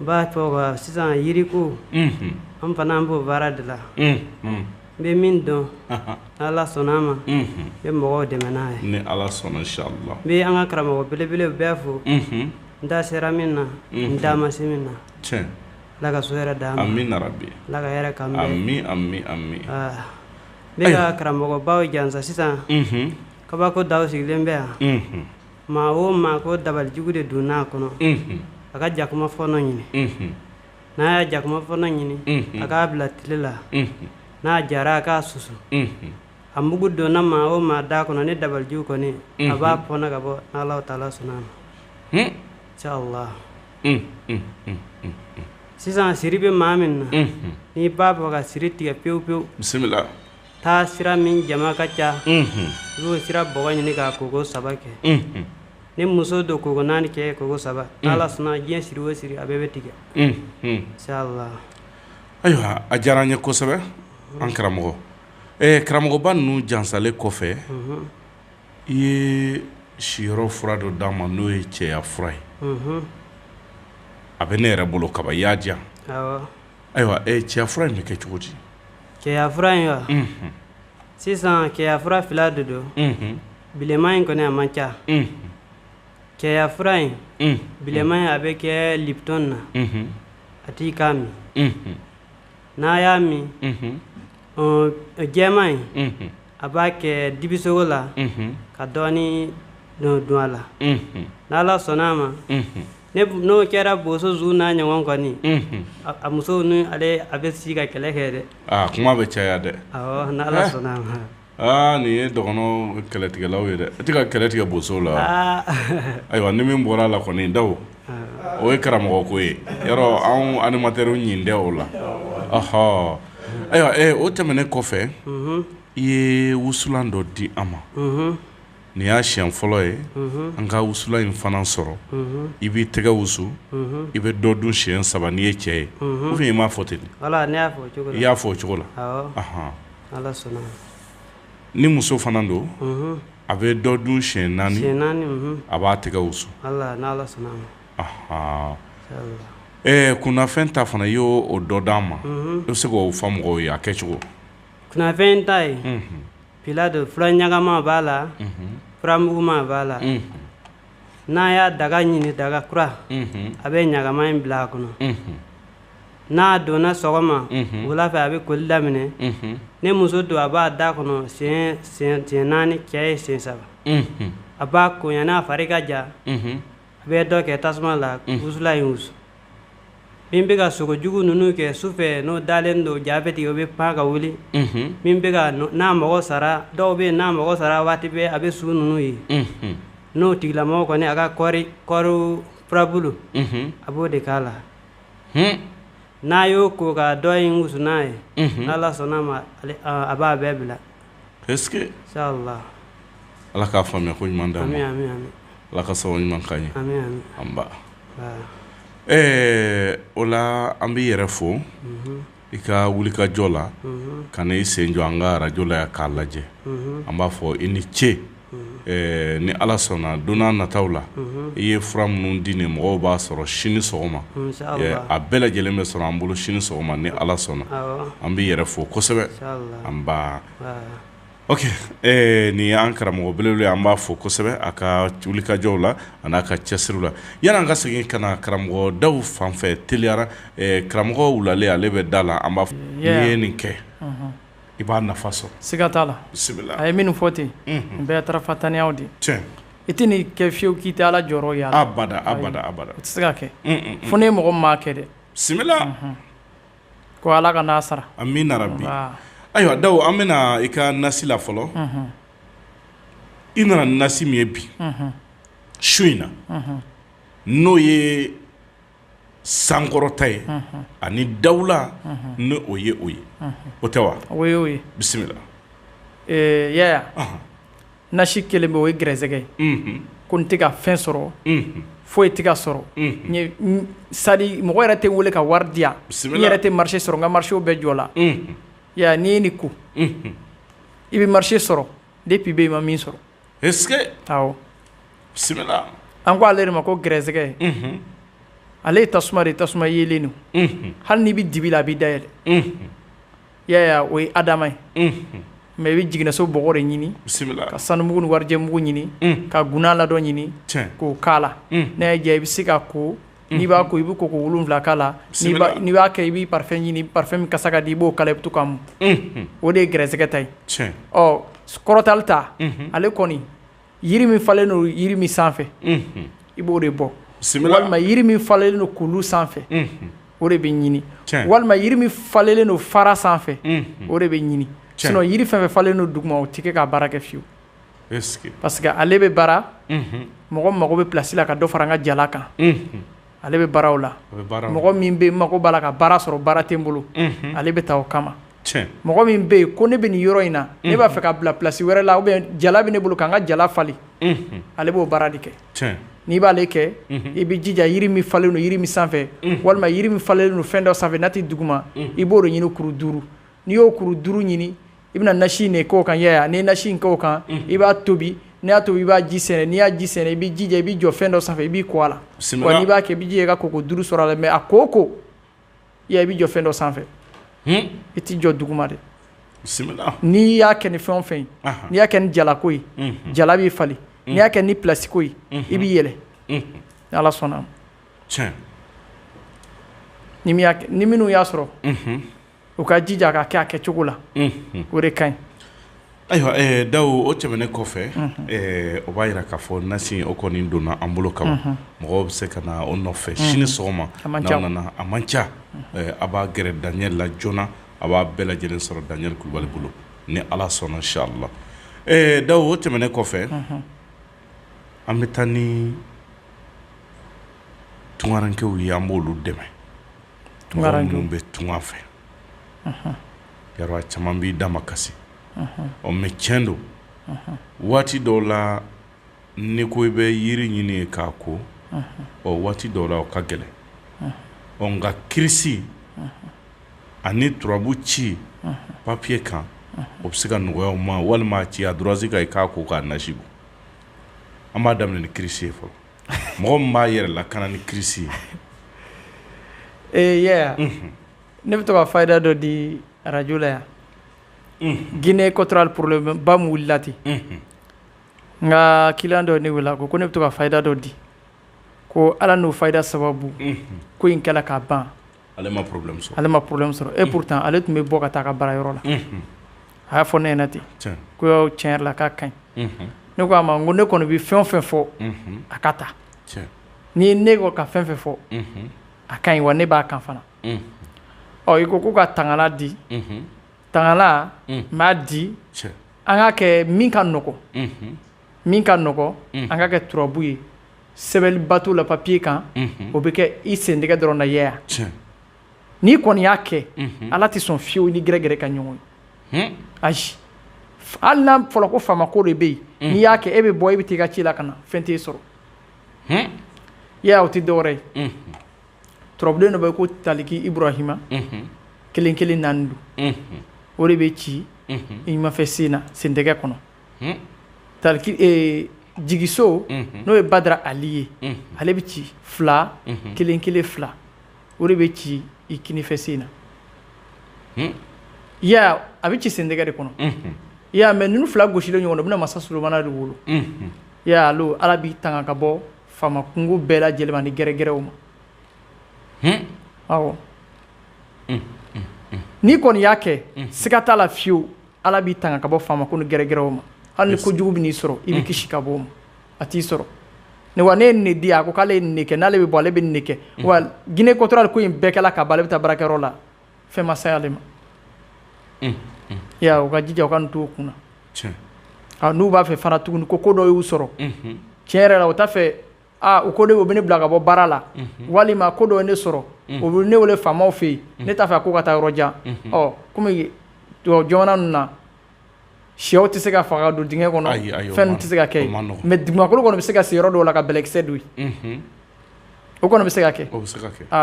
n b'a fɔ ko sisan yiriko an fana an b'o baara de la n bɛ min dɔn ni ala sɔnna a ma n bɛ mɔgɔw dɛmɛ n'a ye ni ala sɔnna inshallah n bɛ an ka karamɔgɔ belebelew bɛɛ fo n da sera min na n da ma se min na ala ka su hɛrɛ d'an ma amiina yarabi ala ka hɛrɛ k'an ye amin amin amin n bɛ n ka karamɔgɔbaw jansa sisan kabako daw sigilen bɛ yan Maa o maa ko dabalijugu de donn'a kɔnɔ a ka jakuma fɔɔnɔ ɲini n'a y'a jakuma fɔɔnɔ ɲini a k'a bila tile la n'a jara a k'a susu a mugu donna maa o maa da kɔnɔ ni dabalijugu kɔni a b'a fɔɔnɔ ka bɔ n'ala taala sɔnna inshallah sisan siri bɛ maa min na n'i b'a fɛ ka siri tigɛ pewu pewu bisimila taasira min jama ka ca i b'o sira bɔgɔ ɲini k'a koko saba kɛ ni muso don koko naani cɛ koko saba n'ala sɔnna diɲɛ siri o siri a bɛɛ bɛ tigɛ ayiwa a diyara an ye kosɛbɛ an karamɔgɔ karamɔgɔba ninnu jansalen kɔfɛ i ye siyɔrɔ fura dɔ d'an ma n'o ye cɛya fura ye a bɛ ne yɛrɛ bolo kaban i y'a di yan ayiwa cɛya fura in bɛ kɛ cogo di cɛyafura in wa sisan cɛyafura fila de don bilenman in kɔni a man ca cɛyafura in bilenman in a bɛ kɛ lipton na a t'i k'a min n'a y'a min jɛman in a b'a kɛ dibisogo la ka dɔɔnin don a la n'ala sɔnna a ma n'o kɛra boso zu n'a ɲɔgɔn kɔni a muso ni ale a bɛ sigi ka kɛlɛ kɛ dɛ aa kuma bɛ caya dɛ aa nin ye dɔgɔnɔ kɛlɛtigɛlaw ye dɛ e tɛ ka kɛlɛ tigɛ boso la ayiwa ni min bɔra a la kɔni daw o ye karamɔgɔ ko ye yɔrɔ anw animatɛriw ɲin tɛ o la ahɔ ayiwa o tɛmɛnen kɔfɛ i ye wusulan dɔ di an ma Nin y'a siɲɛ fɔlɔ ye an ka wusulan in fana sɔrɔ i b'i tɛgɛ wusu i bɛ dɔ dun siɲɛ saba n'i ye cɛ ye ou bien i m'a fɔ ten i y'a fɔ o cogo la ni muso fana don a bɛ dɔ dun siɲɛ naani a b'a tɛgɛ wusu ɔ kunnafɛn ta fana i y'o dɔ d'an ma i bɛ se k'o fɔ mɔgɔw ye a kɛcogo kunnafɛn ta ye fila don fura ɲagama b'a la furamuguma b'a la n'a y'a daga ɲini daga kura a bɛ ɲagama in bila a kɔnɔ n'a donna sɔgɔma wula fɛ a bɛ koli daminɛ ni muso don a b'a da kɔnɔ siɲɛ naani cɛ ye siɲɛ saba a b'a ko yan'a fari ka ja a bɛ dɔ kɛ tasuma la wusulan in wusu min bɛ ka sogo jugu ninnu kɛ sufɛ n'o dalen don ja bɛ tigɛ o bɛ pan ka wuli min bɛ ka n'a mɔgɔ sara dɔw bɛ yen n'a mɔgɔ sara waati bɛɛ a bɛ su ninnu ye n'o tigilamɔgɔ kɔni a ka kɔɔri kɔɔri furabulu a b'o de k'a la n'a y'o ko ka dɔ in wusu n'a ye n'Ala sɔnn'a ma a b'a bɛɛ bila Est-ce que Ala k'a faamuya ko ɲuman d'an ma. Ami ami ami. Ala ka sababu ɲuman k'an ye. Ami ami. Anba. Aa. Ɛɛ o la an b'i yɛrɛ fo. Unhun. I ka wulikajɔ la. Unhun. Ka na i sen jɔ an ka radio la yan k'a lajɛ. Unhun. An b'a fɔ i ni ce. ni ala sɔnna don nataw la i ye fura minnu di nin mɔgɔw b'a sɔrɔ sini sɔgɔma a bɛɛ lajɛlen bɛ sɔrɔ an bolo sini sɔgɔma ni ala sɔnna an b'i yɛrɛ fo kosɛbɛ an ba nin y'an karamɔgɔ belebele an b'a fo kosɛbɛ a ka wulikajɔw la an'a ka cɛsiri la yan'an ka segin ka na karamɔgɔ dawu fan fɛ teliyara karamɔgɔ wulalen ale bɛ da la an b'a fɔ n'i ye nin kɛ i b'a nafa sɔrɔ siga t'a la bisimila a ye minnu fɔ ten bɛɛ tarafatanya de i tɛ nin kɛ fiyewu k'i tɛ ala jɔyɔrɔ y'a la abada abada abada o tɛ se ka kɛ fo ni mɔgɔ m'a kɛ dɛ bisimila ko ala ka n'a sara amina rabi ayiwa dawu an bɛna i ka nasi la fɔlɔ i nana nasi min ye bi su in na n'o ye sankɔrɔta ye ani dawula ni o ye o ye o tɛ wa o ye o ye bisimila yaya nasi kelen bɛ o ye gɛrɛsɛgɛ ye ko n tɛ ka fɛn sɔrɔ foyi tɛ ka sɔrɔ c'est-à-dire mɔgɔ yɛrɛ tɛ n wele ka wari di yan n yɛrɛ tɛ marché sɔrɔ n ka marchéw bɛɛ jɔla yaya n'i ye nin ko i bɛ marché sɔrɔ depuis i bɛ i ma min sɔrɔ est-ce que awɔ bisimila an ko ale de ma ko gɛrɛsɛgɛ ale ye tasuma de tasuma yelen don hali n'i bɛ dibi la a b'i da yɛlɛ yaya o ye a dama ye mais i bɛ jiginniso bɔgɔ de ɲini ka sanumugu ni warijɛmugu ɲini ka gunan ladɔn ɲini k'o k'a la n'a y'a diya i bɛ se ka ko n'i b'a ko i bɛ koko wolonwula k'a la n'i b'a kɛ i bɛ parfum ɲini parfum min kasa ka di i b'o k'a la i bɛ to k'a mun o de ye gɛrɛsɛgɛ ta ye ɔ kɔrɔtali ta ale kɔni yiri min falen don yiri min sanfɛ i b'o de bɔ walima yiri min falelen don kulu sanfɛ o de bɛ ɲini walima yiri min falelen don fara sanfɛ o de bɛ ɲini sinon yiri fɛn o fɛn falelen don duguma o tɛ kɛ ka baara kɛ fiyewu parce que ale bɛ baara mɔgɔ mago bɛ plasi la ka dɔ fara n ka jala kan ale bɛ baaraw la mɔgɔ min bɛ n mago b'a la ka baara sɔrɔ baara tɛ n bolo ale bɛ taa o kama mɔgɔ min bɛ yen ko ne bɛ nin yɔrɔ in na ne b'a fɛ ka bila plasi wɛrɛ la jala bɛ ne bolo ka n ka jala falen ale b'o baara de kɛ n'i b'ale kɛ i bɛ jija yiri min falen don yiri min sanfɛ walima yiri min falelen don fɛn dɔ sanfɛ n'a tɛ duguma i b'o de ɲini kuru duuru n'i y'o kuru duuru ɲini i bɛna nasi in de kɛ o kan i y'a ye wa, n'i ye nasi in kɛ o kan, unhun, i b'a tobi n'i y'a tobi i b'a ji sɛɛnɛ n'i y'a ji sɛɛnɛ i b'i jija i b'i jɔ fɛn dɔ sanfɛ i b'i ko a la, bisimila, wa n'i b'a kɛ i b'i jija i ka koko duuru sɔrɔ a la mais a ko o ko i y'a ye i b'i jɔ fɛn dɔ sanfɛ, hun, i t'i jɔ duguma dɛ, bisimila, n'i y'a kɛ ni fɛn o fɛn ye, anhan, n'i y'a kɛ ni jalako ye, unhun, jala b'i falen, n'i y'a kɛ ni pilasi ko ye, unhun, i b'i yɛlɛ, unhun, ni Ala sɔnn'a ma, tiɲɛ, ni min y'a kɛ ni minnu y'a sɔrɔ, unhun u ka jija k'a kɛ a kɛcogo la o de ka ɲi ayiwa Dawu o tɛmɛnen kɔfɛ o b'a jira k'a fɔ nasi o kɔni donna an bolo kaban mɔgɔw bɛ se ka na o nɔfɛ sini sɔgɔma n'aw nana a man ca a b'a gɛrɛ Daniel la joona a b'a bɛɛ lajɛlen sɔrɔ Daniel Kulubali bolo ni ala sɔnna inchallah Dawu o tɛmɛnen kɔfɛ an bɛ taa ni tungarankew ye an b'olu dɛmɛ bɛ tunga fɛ Yaro a caman b'i da ma kasi ɔ mais cɛn don waati dɔw la ni ko i bɛ yiri ɲini ye k'a ko ɔ waati dɔw la o ka gɛlɛn ɔ nka kirisi ani turabu ci papiye kan o bɛ se ka nɔgɔya u ma walima a ci ardoise kan i k'a ko k'a nasi bɔ an b'a daminɛ ni kirisi ye fɔlɔ mɔgɔ min b'a yɛrɛ lakana ni kirisi ye ee ne bɛ to ka fayida dɔ di arajo la yan Guinée équatoriale problème ba min wilila ten n ka client dɔ ne wele ko ko ne bɛ to ka fayida dɔ di ko ala n'o fayida sababu ko in kɛla ka ban ale ma problème sɔrɔ, ale ma problème sɔrɔ et pourtant ale tun bɛ bɔ ka taa a ka baara yɔrɔ la, unhun, a y'a fɔ ne ɲɛna ten, tiɲɛ, ko yɔrɔ tiɲɛ yɛrɛ la k'a ka ɲi, unhun, ne ko a ma n ko ne kɔni bɛ fɛn o fɛn fɔ, unhun, a ka ta, tiɲɛ, ni ne ko ka fɛn fɛn fɔ, unhun, a ka ɲi wa ne b'a kan fana, unhun, ɔ i ko ko ka tangalan di, unhun, tangalan n b'a di, tiɲɛ, an k'a kɛ min ka nɔgɔn, unhun min ka nɔgɔn an ka kɛ turabu ye sɛbɛnniba t'o la papiye kan o bɛ kɛ i sentɛgɛ dɔrɔn na yaya n'i kɔni y'a kɛ ala tɛ sɔn fiyewu ni gɛrɛgɛrɛ ka ɲɔgɔn ye ayi hali n'a fɔra ko faama ko de bɛ yen n'i y'a kɛ e bɛ bɔ e bɛ taa i ka ci la ka na fɛn t'e sɔrɔ yaya o tɛ dɔwɛrɛ ye turabuden dɔ bɛ yen ko taliki ibrahima kelen kelen naani don o de bɛ ci i numanfɛ sen na sentɛgɛ kɔnɔ taliki jigiso n'o ye badara ali ye ale bɛ ci fila kelen kelen fila o de bɛ ci i kinifɛ sen na ya a bɛ ci sentɛgɛ de kɔnɔ ya mɛ ninnu fila gosilen ɲɔgɔn na u bɛna masa sulomana de wolo ya alo ala b'i tanga ka bɔ faama kunko bɛɛ lajɛlen ma ani gɛrɛgɛrɛw ma awɔ n'i kɔni y'a kɛ siga t'a la fiyewu ala b'i tanga ka bɔ faama ko ni gɛrɛgɛrɛw ma hali ni ko jugu bɛn'i sɔrɔ i bɛ mm. kisi ka bɔ o ma a t'i sɔrɔ ne wa ne ye nin di a ko k'ale ye nin kɛ n'ale bɛ bɔ ale bɛ nin kɛ mm. wa guinée équatoriale ko in bɛɛ kɛla ka ban ale bɛ taa baarakɛyɔrɔ la fɛn ma se ale ma mm, ya u ka jija u ka nin to u kun na n'u b'a fɛ fana tuguni ko ko dɔ y'u sɔrɔ tiɲɛ yɛrɛ la o t'a fɛ aa u ko de o bɛ ne bila ka bɔ baara la walima ko dɔ ye ne sɔrɔ o bɛ ne wele faamaw fɛ yen ne t'a fɛ a ko ka taa yɔrɔ jan ɔ kɔmi jamana ninnu na shɛw tɛ se ka faga don dingɛ kɔnɔ fɛn tɛ se ka kɛ mɛ dugukolo kɔni bɛ se ka sen yɔrɔ dɔw la ka bɛlɛkisɛ don yen o kɔni bɛ se ka kɛ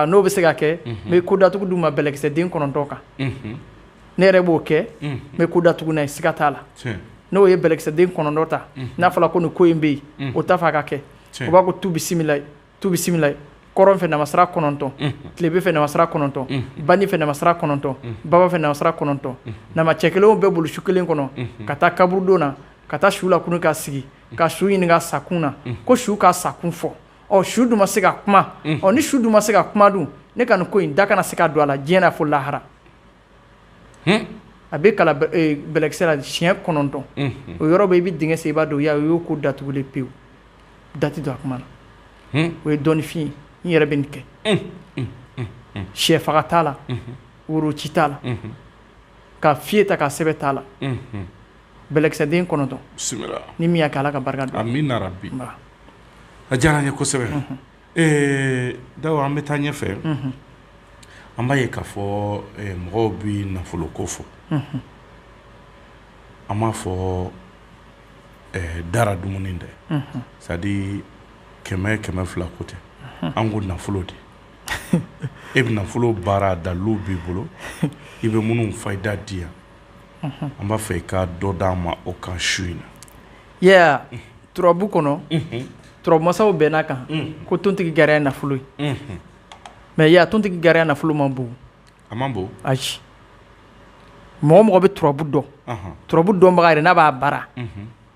n'o bɛ se ka kɛ n bɛ ko datugu d'u ma bɛlɛkisɛden kɔnɔntɔn kan ne yɛrɛ b'o kɛ n bɛ ko datugu n'a ye siga t'a la n'o ye bɛlɛkisɛden kɔnɔntɔn ta n'a fɔra ko nin ko in bɛ yen o t'a fɛ a ka kɛ u b'a ko tu bisimila kɔrɔn fɛ namasira kɔnɔntɔn tilebin fɛ namasira kɔnɔntɔn bani fɛ namasira kɔnɔntɔn baba fɛ namasira kɔnɔntɔn nama cɛ kelen bɛ bolo su kelen kɔnɔ ka taa kaburudon na ka taa su lakunun ka sigi ka su ɲininka sakun na ko su ka sakun fɔ ɔ su dun ma se ka kuma ɔ ni su dun ma se ka kuma dun ne ka nin ko in da kana se ka don a la diɲɛ fo lahara a bɛ kalan bɛlɛkisɛ la siɲɛ kɔnɔntɔn o yɔrɔ bɛ i bɛ dingɛ sen i b'a don ya o y'o ko datugulen pewu da tɛ don a kuma na o ye dɔnnifin ye n yɛrɛ bɛ nin kɛ shɛ faga t'a la woro ci t'a la ka fɛyi ta ka sɛbɛn t'a la bɛlɛkisɛden kɔnɔntɔn ni min y'a kɛ ala ka barika don a diyara n ye kosɛbɛ Ee dawo an bɛ taa ɲɛ fɛ an b'a ye k'a fɔ mɔgɔw bɛ nafolo ko fɔ an m'a fɔ dara dumuni dɛ sadi kɛmɛ kɛmɛ fila ko tɛ an ko nafolo de e bɛ nafolo baara dalu b'i bolo i bɛ minnu fayida di yan an b'a fɛ i ka dɔ d'an ma o kan su in na ya turabu kɔnɔ turabu masaw bɛnn'a kan ko tontigi gariya nafolo ye mais ya tontigi gariya nafolo man bon a man bon ayi mɔgɔ mɔgɔ bɛ turabu dɔn turabu dɔnbaga yɛrɛ n'a b'a baara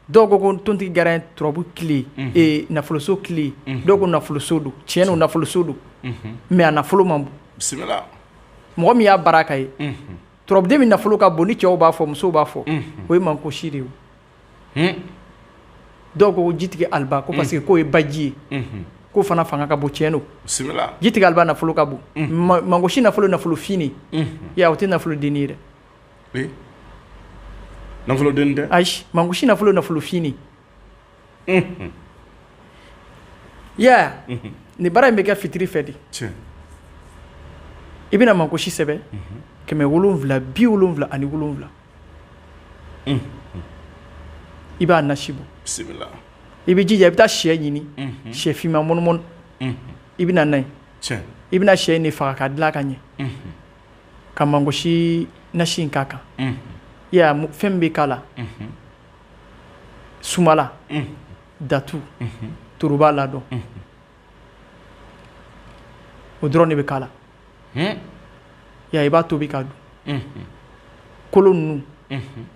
dɔw ko ko tontigi gariya turabu kile nafoloso kile dɔw ko nafoloso don tiɲɛ don nafoloso don mais a nafolo man bon bisimila mɔgɔ min y'a baara k'a ye turabuden min nafolo ka bon ni cɛw b'a fɔ musow b'a fɔ o ye mankosi de ye dɔw ko jitigi aliba ko parce que k'o ye baji ye k'o fana fanga ka bon tiɲɛ don jitigi aliba nafolo ka bon mankosi nafolo nafolofin o tɛ nafolo dennin ye dɛ nafolo ayi mankosi nafolo nafolofin nin baara in bɛ kɛ fitiri fɛ de i bɛna mankosi sɛbɛn kɛmɛ wolonwula bi wolonwula ani wolonwula i b'a nasi bɔ bisimila i bɛ jija i bɛ taa shɛ ɲini shɛ finman mɔnimɔni i bɛ na n'a ye i bɛna shɛ nin faga k'a dilan ka ɲɛ ka mangosi nasi in k'a kan ya fɛn min bɛ k'a la sumala datu toroba ladɔn o dɔrɔn de bɛ k'a la ya i b'a tobi k'a dun kolo ninnu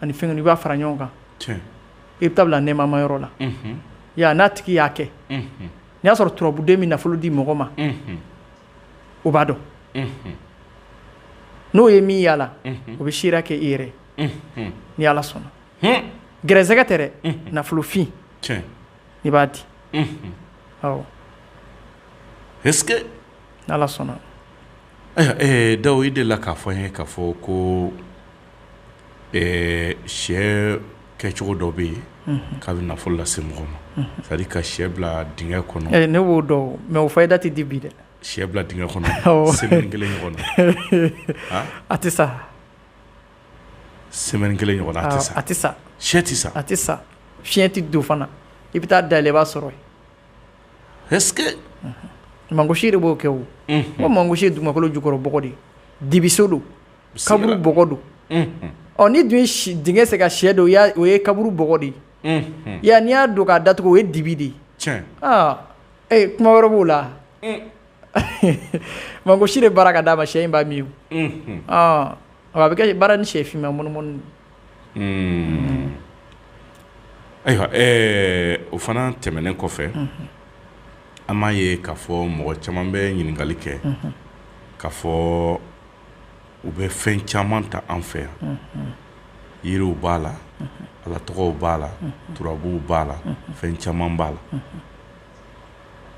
ani fɛn ninnu i b'a fara ɲɔgɔn kan i bɛ taa bila nɛɛmama yɔrɔ la ya n'a tigi y'a kɛ n'i y'a sɔrɔ turabuden min nafolo di mɔgɔ ma o b'a dɔn n'o ye min y'a la o bɛ seereya kɛ i yɛrɛ ni ala sɔnna gɛrɛsɛgɛ tɛ dɛ nafolofin i b'a di est-ce que n'ala sɔnna dawo i delila k'a fɔ n ye k'a fɔ ko sɛ kɛcogo dɔ bɛ yen k'a bɛ nafolo lase mɔgɔ ma c'est à dire ka sɛ bila dingɛ kɔnɔ ne b'o dɔn mais o fayida tɛ di bi dɛ sɛ bila dingɛ kɔnɔ semaine kelen ɲɔgɔn a tɛ sa semaine kelen ɲɔgɔn a tɛ sa sɛ tɛ sa a tɛ sa fiɲɛ tɛ don fana i bɛ taa dayɛlɛ i b'a sɔrɔ mangosi de b'o kɛ o ko mangosi ye dugumakolo jukɔrɔ bɔgɔ de dibiso don kaburu bɔgɔ don ɔ n'i dun ye dingɛ sen ka sɛ don o ye kaburu bɔgɔ de ye ya n'i y'a don k'a datugu o ye dibi de ye kuma wɛrɛ b'o la Mangosi de baara ka d'a ma sɛ in b'a min a bɛ kɛ baara ni sɛ finman mɔnimɔni ayiwa o fana tɛmɛnen kɔfɛ an m'a ye k'a fɔ mɔgɔ caman bɛ ɲininkali kɛ k'a fɔ u bɛ fɛn caman ta an fɛ yan yiriw b'a la ala tɔgɔw b'a la turabuw b'a la fɛn caman b'a la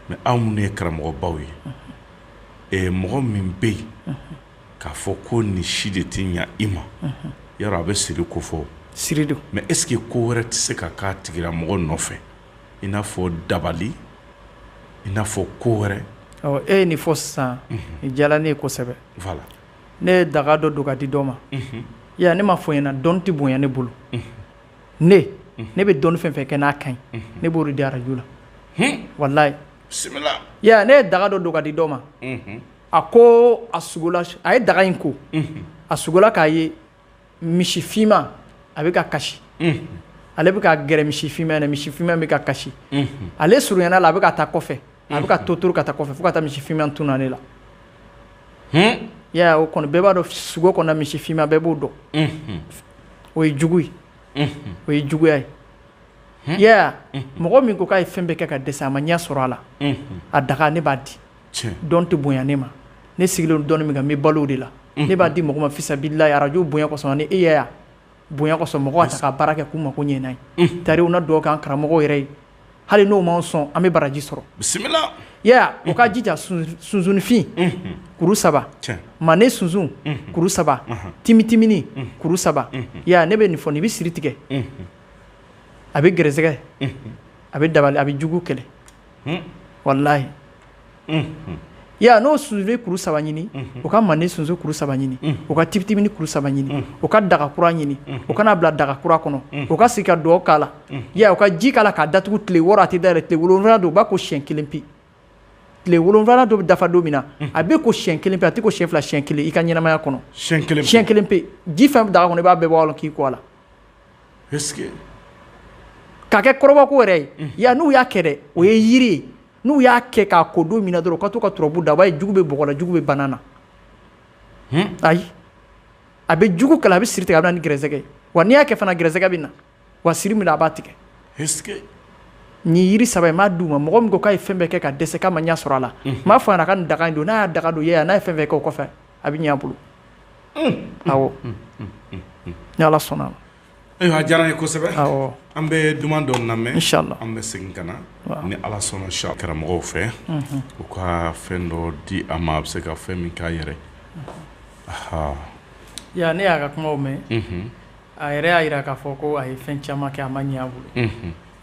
mɛ aw minnu ye karamɔgɔbaw ye ɛ mɔgɔ min bɛ yen k'a fɔ ko nin si de tɛ ɲɛ i ma yɔrɔ a bɛ siri ko fɔ siri don mɛ est-ce que ko wɛrɛ tɛ se ka k'a tigila mɔgɔ nɔfɛ i n'a fɔ dabali i n'a fɔ ko wɛrɛ e ye nin fɔ sisan nin diyara ne ye kosɛbɛ voilà ne ye daga dɔ don k'a di dɔ ma ya ne m'a fɔ i ɲɛna dɔn tɛ bonya ne bolo ne ne bɛ dɔnni fɛn fɛn kɛ n'a ka ɲi ne b'o de di arajo la walayi bisimila ya ne ye daga dɔ don k'a di dɔ ma a ko a sugola a ye daga in ko a sugola k'a ye misi finman a bɛ ka kasi ale bɛ ka gɛrɛ misi finman na misi finman bɛ ka kasi ale surunyana a la a bɛ ka taa kɔfɛ a bɛ ka to to ka taa kɔfɛ fo ka taa misi finman tunna ne la Yaya o kɔni bɛɛ b'a dɔn sugo kɔnɔ misi finman bɛɛ b'o dɔn o ye jugu ye o ye juguya ye Yaya mɔgɔ min ko k'a ye fɛn bɛɛ kɛ ka dɛsɛ a ma ɲɛ sɔrɔ a la a daga ne b'a di dɔn tɛ bonya ne ma ne sigilen dɔn min kan n bɛ balo o de la ne b'a di mɔgɔ ma fisabililayi arajo bonya kɔsɔn ni e Yaya bonya kɔsɔn mɔgɔ k'a ta ka baara kɛ k'u mako ɲɛ tari u na dugawu k'an karamɔgɔw yɛrɛ ye hali n'o m'an sɔn an bɛ baraji sɔrɔ bisimila ya u ka jija sunsunfin kuru saba manden sunsun kuru saba timitimini kuru saba ya ne bɛ nin fɔ nin bɛ siri tigɛ a bɛ gɛrɛsɛgɛ a bɛ dabali a bɛ jugu kɛlɛ walayi ya n'o sunsun kuru saba ɲini u ka manden sunsun kuru saba ɲini u ka timitimini kuru saba ɲini u ka daga kura ɲini u ka n'a bila daga kura kɔnɔ u ka sigi ka dugawu k'a la u ka ji k'a la k'a datugu tile wɔɔrɔ a tɛ dayɛlɛ tile wolonwula don u b'a ko siyɛn kelen pe tile wolonwula dɔ bɛ dafa don min na a bɛ ko siyɛn kelen pe a tɛ ko siyɛn fila siyɛn kelen i ka ɲɛnamaya kɔnɔ siyɛn kelen pe ji fɛn bɛ daga kɔnɔ i b'a bɛɛ bɔ a la k'i ko a la k'a kɛ kɔrɔbɔ ko yɛrɛ ye ya n'u y'a kɛ o ye yiri ye n'u y'a kɛ k'a ko don min na dɔrɔn u ka to ka turabu da a b'a ye jugu bɛ bɔgɔ la jugu bɛ bana na ayi a bɛ jugu kɛlɛ a bɛ siri tigɛ a bɛ na ni gɛrɛsɛgɛ wa n'i y'a kɛ fana gɛrɛsɛgɛ bɛ na wa siri min a b'a tigɛ nin yiri saba m'a d'u ma mɔgɔ min ko k'a ye fɛn bɛɛ kɛ ka dɛsɛ k'a ma ɲɛ sɔrɔ a la m'a fɔ a ka nin daga don n'a y'a daga don n'a ye fɛn bɛɛ kɛ o kɔfɛ a bɛ ɲɛ a bolo awɔ ni ala sɔnna Ayiwa a diyara n ye kosɛbɛ an bɛ duman dɔ lamɛn an bɛ segin ka na ni ala sɔnna sa karamɔgɔw fɛ u ka fɛn dɔ di a ma a bɛ se ka fɛn min k'a yɛrɛ ya ne y'a ka kumaw mɛn a yɛrɛ y'a jira k'a fɔ ko a ye fɛn caman kɛ a ma ɲɛ a bolo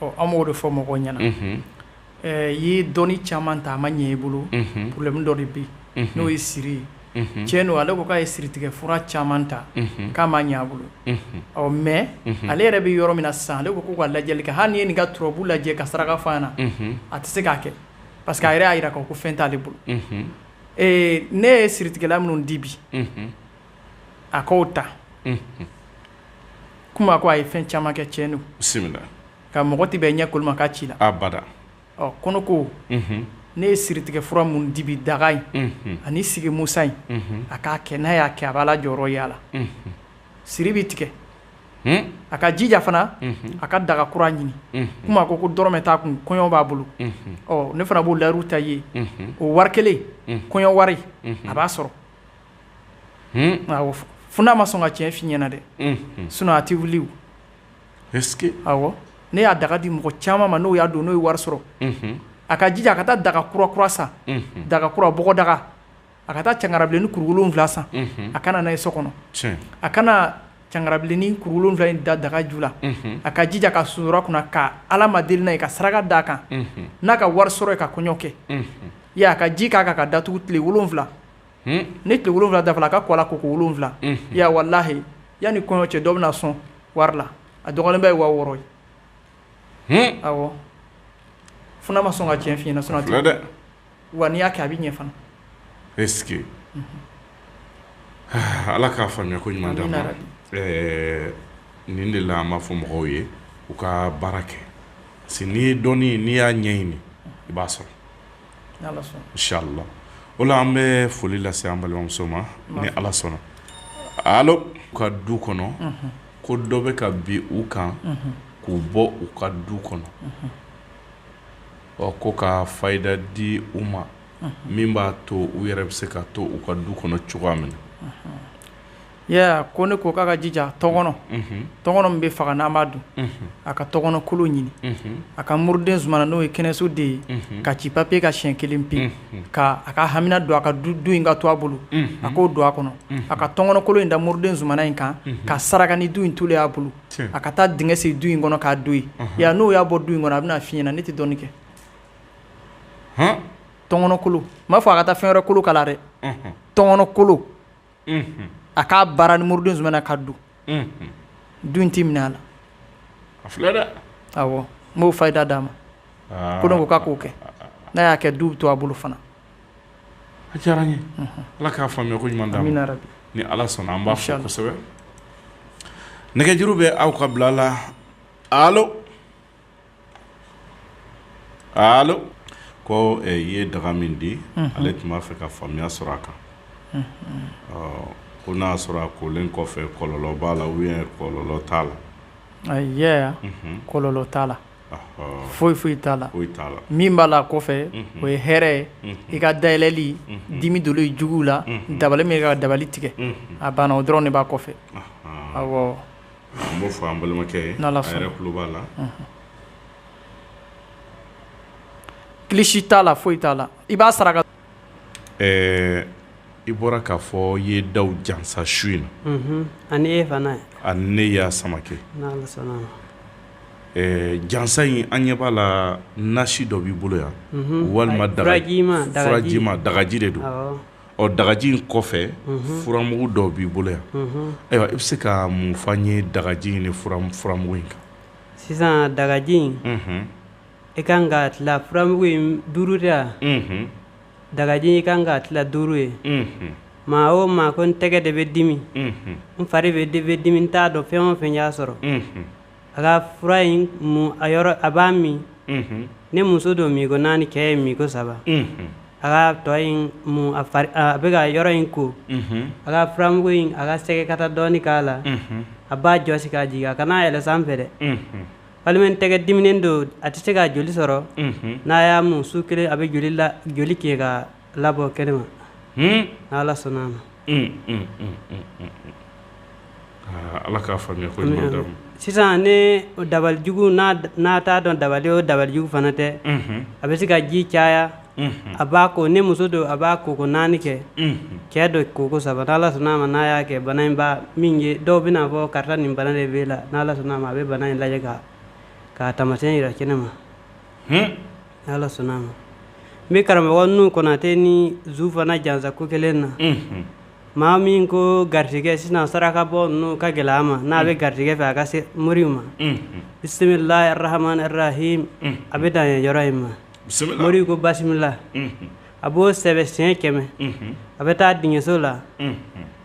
ɔ an b'o de fɔ mɔgɔw ɲɛna Ɛɛ i ye dɔnni caman ta a ma ɲɛ i bolo problème dɔ de bɛ n'o ye siri ye cɛn don ale ko k'a ye siritigɛ fura caman ta k'a ma ɲɛ a bolo ɔ mais ale yɛrɛ bɛ yɔrɔ min na sisan ale ko k'u ka lajɛli kɛ hali n'i ye nin ka turabu lajɛ ka saraka f'a ɲɛna a tɛ se k'a kɛ parce que a yɛrɛ y'a jira k'a fɔ ko fɛn t'ale bolo ee ne ye siritigɛla minnu di bi a k'o ta komi a ko a ye fɛn caman kɛ cɛn don bisimila Ka mɔgɔ tɛ bɛn ɲɛkolo ma k'a ci la abada ɔ kɔnɔ ko ne ye siritigɛ fura minnu di bi daga in ani sigi musa in a k'a kɛ n'a y'a kɛ a b'a la jɔyɔrɔ ye a la siri bɛ tigɛ a ka jija fana a ka daga kura ɲini komi a ko ko dɔrɔmɛ t'a kun kɔɲɔ b'a bolo ɔ ne fana b'o layiru t'a ye o wari kelen kɔɲɔ wari a b'a sɔrɔ fo n'a ma sɔn ka tiɲɛ f'i ɲɛna dɛ sinon a tɛ wuli ne y'a daga di mɔgɔ caman ma n'o y'a don n'o ye wari sɔrɔ a ka jija a ka taa daga kura kura san daga kura bɔgɔdaga a ka taa cangarabilennin kuru wolonwula san a ka na n'a ye so kɔnɔ a ka na cangarabilennin kuru wolonwula in da daga ju la a ka jija ka sonsoro a kunna ka ala ma deli n'a ye ka saraka d'a kan n'a ka wari sɔrɔ ye ka kɔɲɔ kɛ ye a ka ji k'a kan k'a datugu tile wolonwula ni tile wolonwula dafala a ka ko a la koko wolonwula ya walahi yanni kɔɲɔ cɛ dɔ bɛna sɔn wari la a dɔgɔnin bɛ ye waa wɔɔrɔ ye awɔ fo n'a ma sɔn ka cɛn f'i ɲɛna sinon dɛ wa n'i y'a kɛ a bɛ ɲɛ fana e ala k'a faamuya ko ɲuman d'an ma nin de la an b'a fɔ mɔgɔw ye u ka baara kɛ parce que n'i ye dɔnni n'i y'a ɲɛɲini i b'a sɔrɔ inshallah o la an bɛ foli lase an balimamuso ma ni ala sɔnna alo u ka du kɔnɔ ko dɔ bɛ ka bin u kan k'u bɔ u ka du kɔnɔ ɔ ko ka fayida di u ma min b'a to u yɛrɛ bɛ se ka to u ka du kɔnɔ cogoya min na Ee ko ne ko k'a ka jija tɔnkɔnɔ tɔnkɔnɔ min bɛ faga n'an b'a dun a ka tɔnkɔnɔkolo ɲini a ka muruden zumana n'o ye kɛnɛso den ye ka ci papiye kan siɲɛ kelen pe ka a ka hamina don a ka du in ka to a bolo a k'o don a kɔnɔ a ka tɔnkɔnɔkolo in da muruden zumana in kan ka saraka ni du in tolen y'a bolo a ka taa dingɛ sen du in kɔnɔ k'a don yen n'o y'a bɔ du in kɔnɔ a bɛna f'i ɲɛna ne tɛ dɔni kɛ tɔnkɔnɔkolo n m'a fɔ a ka taa fɛn wɛrɛ kolo k'a la dɛ tɔnkɔnɔkolo a k'a baara ni muruden suma n'a ka du dun tɛ minɛ a la a filɛ dɛ awɔ n b'o fayida d'a ma ko ne ko k'a k'o kɛ n'a y'a kɛ du bɛ to a bolo fana a diyara n ye ala k'a faamuya ko ɲuman d'a ma ni ala sɔnna an b'a fɔ kosɛbɛ nɛgɛjuru bɛ aw ka bila la ko i ye daga min di ale tun b'a fɛ ka faamuya sɔrɔ a kan ko n'a y'a sɔrɔ a kolen kɔfɛ kɔlɔlɔ b'a la ou bien kɔlɔlɔ t'a la kɔlɔlɔ t'a la foyi foyi t'a la min b'a la kɔfɛ o ye hɛrɛ ye i ka dayɛlɛli dimi dɔ i juguw la dabali min ka dabali tigɛ a banna o dɔrɔn de b'a kɔfɛ An b'o fɔ an balimakɛ ye a yɛrɛ tulo b'a la kilisi t'a la foyi t'a la i b'a saraka ɛɛ i bɔra k'a fɔ i ye daw jansa su in na ani e fana ani ne y'a samakɛ jansa in an ɲɛ b'a la nasi dɔ b'i bolo yan walima dagaji ma dagaji de don Ɔ dagaji in kɔfɛ furamugu dɔw b'i bolo yan ayiwa i bɛ se ka mun fɔ an ye dagaji ni furamugu in kan sisan dagaji in i ka kan k'a tila furamugu in duuru de yan dagaji i ka kan k'a tila duuru ye maa o maa ko n tɛgɛ de bɛ dimi n fari bɛɛ de bɛ dimi n t'a dɔn fɛn o fɛn y'a sɔrɔ a ka fura in mun a b'a min ni muso don minko naani cɛ ye minko saba a ka tɔ in mun a bɛ ka yɔrɔ in ko a ka furamugu in a ka sɛgɛ kata dɔɔni k'a la a b'a jɔsi k'a jigin a kana yɛlɛ sanfɛ dɛ walima n tɛgɛ diminen don a tɛ se ka joli sɔrɔ n'a y'a mun su kelen a bɛ joli la joli kɛ ka Labɔ kɛnɛ ma n'ala sɔnna a ma ala k'a faamuya ko ɲuman d'a ma sisan ni dabalijugu n'a t'a dɔn dabali o dabalijugu fana tɛ a bɛ se ka ji caya a b'a ko ni muso don a b'a koko naani kɛ cɛ don koko saba n'ala sɔnna a ma n'a y'a kɛ bana in b'a min ye dɔw bɛn'a fɔ karisa nin bana de b'e la n'ala sɔnna a ma a bɛ bana in lajɛ k'a taamasiyɛn yira kɛnɛ ma ala sɔnna a ma n bɛ karamɔgɔ nuhu konatɛ ni zu fana jansa ko kelen na maa min ko garijɛgɛ sisan saraka bɔ ninnu ka gɛlɛn a ma n'a bɛ garijɛgɛ fɛ a ka se mori ma bisimilahi rahmani rahim a bɛ dan yɔrɔ in ma mori ko basimila a b'o sɛbɛn siyɛn kɛmɛ a bɛ taa dingɛso la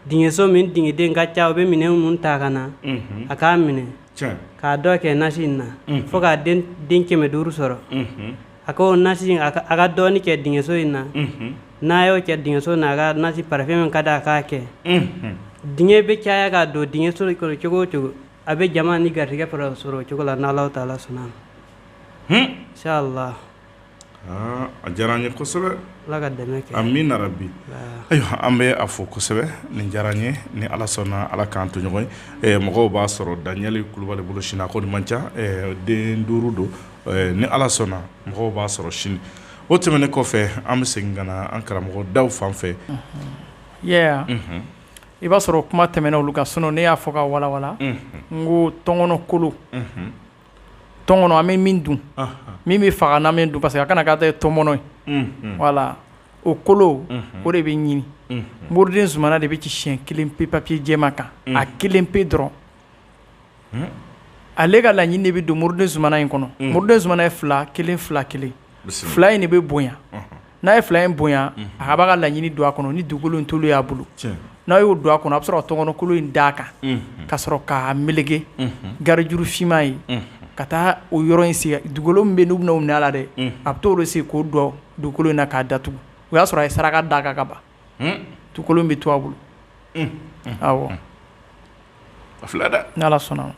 dingɛso min dingɛden ka ca u bɛ minɛn minnu ta ka na a k'a minɛ k'a dɔ kɛ nasi in na fo k'a den kɛmɛ duuru sɔrɔ a ko nasi a ka dɔɔnin kɛ dingɛso in na n'a y'o kɛ dingɛso in na a ka nasi parafɛn min ka di a k'a kɛ dingɛ bɛ caya ka don dingɛso kɔnɔ cogo o cogo a bɛ jama ni garijɛgɛ sɔrɔ o cogo la n'Ala taala sɔnna inshala a diyara an ye kosɛbɛ amina rabi ayiwa an bɛ a fɔ kosɛbɛ nin diyara n ye ni ala sɔnna ala k'an to ɲɔgɔn ye mɔgɔw b'a sɔrɔ Daniɛli Kulubali bolo sini a ko man ca den duuru don ni ala sɔnna mɔgɔw b'a sɔrɔ sini o tɛmɛnen kɔfɛ an bɛ segin ka na an karamɔgɔ Dawu fan fɛ i b'a sɔrɔ kuma tɛmɛna olu kan sinɔn ne y'a fɔ ka walawala n ko tɔnkɔnɔ kolo tɔnkɔnɔ an bɛ min dun min bɛ faga n'an b'a dun parce que a kana k'a ta tɔmɔnɔ ye wala o kolo o de bɛ ɲini muruden zumana de bɛ ci siyɛn kelen pe papiye jɛma kan a kelen pe dɔrɔn ale ka laɲini de bɛ don muruden zumana in kɔnɔ muruden zumana ye fila kelen fila kelen fila in de bɛ bonya n'a ye fila in bonya a ka b'a ka laɲini don a kɔnɔ ni dugukolo in toli y'a bolo n'a y'o don a kɔnɔ a bɛ sɔrɔ tɔnkɔnɔkolo in d'a kan ka sɔrɔ k'a melege garijuru finman ye ka taa o yɔrɔ in sigi dugukolo min bɛ n'u bɛna o minɛ a la dɛ a bɛ t'o de sigi k'o don dugukolo in na k'a datugu o y'a sɔrɔ a ye saraka d'a kan ka ban dugukolo in bɛ to a bolo awɔ a filɛ dɛ n'Ala sɔnna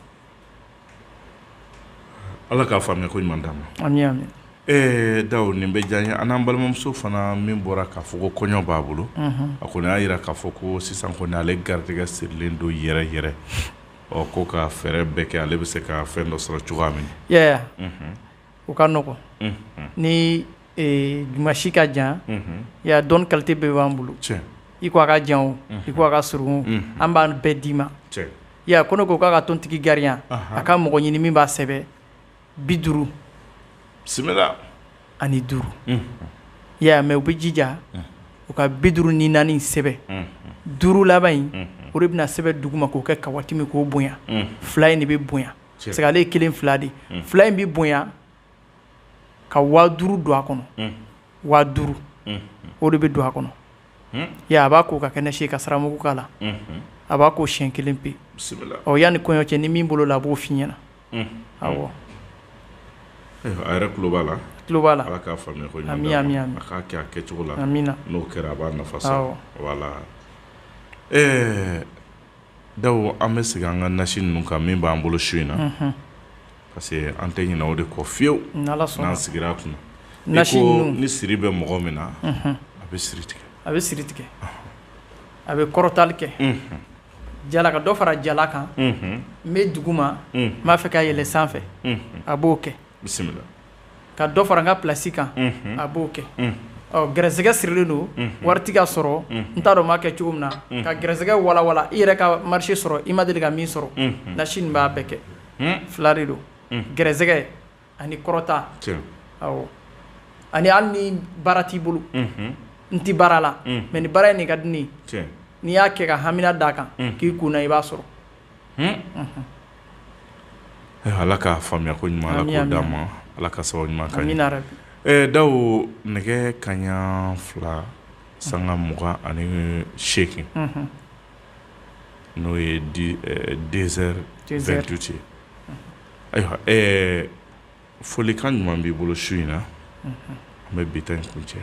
Ala k'a faamuya ko ɲuman d'a ma ami ami ee Dawu nin bɛ diya n ye ani an balimamuso fana min bɔra k'a fɔ ko kɔɲɔ b'a bolo a kɔni y'a jira k'a fɔ ko sisan kɔni ale garijɛgɛ sirilen don yɛrɛ yɛrɛ ɔ ko ka fɛɛrɛ bɛɛ kɛ ale bɛ se ka fɛn dɔ sɔrɔ cogoya min na o ka nɔgɔn ni dimasi ka jan ya dɔnni kalite bɛɛ b'an bolo i ko a ka jan o i ko a ka surun an b'a bɛɛ d'i ma Ya ko ne ko k'a ka tontigi garinya a ka mɔgɔ ɲini min b'a sɛbɛ bi duuru bisimila ani duuru ya mɛ u bɛ jija u ka bi duuru ni naani sɛbɛn duuru laban in o de bɛna sɛbɛn duguma k'o kɛ kawatimi k'o bonya fila in de bɛ bonya parce que ale ye kelen fila de fila in bɛ bonya ka waa duuru don a kɔnɔ waa duuru o de bɛ don a kɔnɔ ya a b'a ko ka kɛnɛ se ka saramugu k'a la a b'a ko siyɛn kelen pe ɔ yanni kɔɲɔ cɛ ni min bolo la a b'o f'i ɲɛ na ayiwa a yɛrɛ tulo b'a la Ala k'a faamuya ko ɲuman a k'a kɛ a kɛcogo la n'o kɛra a b'a nafa sɔrɔ wala ɛɛ Dawu an bɛ segin an ka nasi ninnu kan min b'an bolo su in na parce que an tɛ ɲinɛ o de kɔ fiyewu n'an sigira a kun na ni siri bɛ mɔgɔ min na a bɛ siri tigɛ a bɛ siri tigɛ a bɛ kɔrɔtali kɛ jala ka dɔ fara jala kan n bɛ duguma n b'a fɛ ka yɛlɛ sanfɛ a b'o kɛ ka dɔ fara n ka place kan a b'o kɛ gɛrɛsɛgɛ sirilen don wari tɛ ka sɔrɔ n t'a dɔn n b'a kɛ cogo min na ka gɛrɛsɛgɛ walawala i yɛrɛ ka marché sɔrɔ i ma deli ka min sɔrɔ Nasi nin b'a bɛɛ kɛ fila de don gɛrɛsɛgɛ ani kɔrɔta awɔ ani hali ni baara t'i bolo n tɛ baara la mais nin baara in de ka di ne ye n'i y'a kɛ ka hamina d'a kan k'i kun na i b'a sɔrɔ. Ala ka faamuya ko ɲuman d'a ma ala ka sababu ɲuman Dawu nɛgɛ kaɲa fila sanga mugan ani seegin n'o ye deux heures vingt-huit ye ayiwa folikan ɲuman b'i bolo su in na an bɛ bi ta in kuncɛ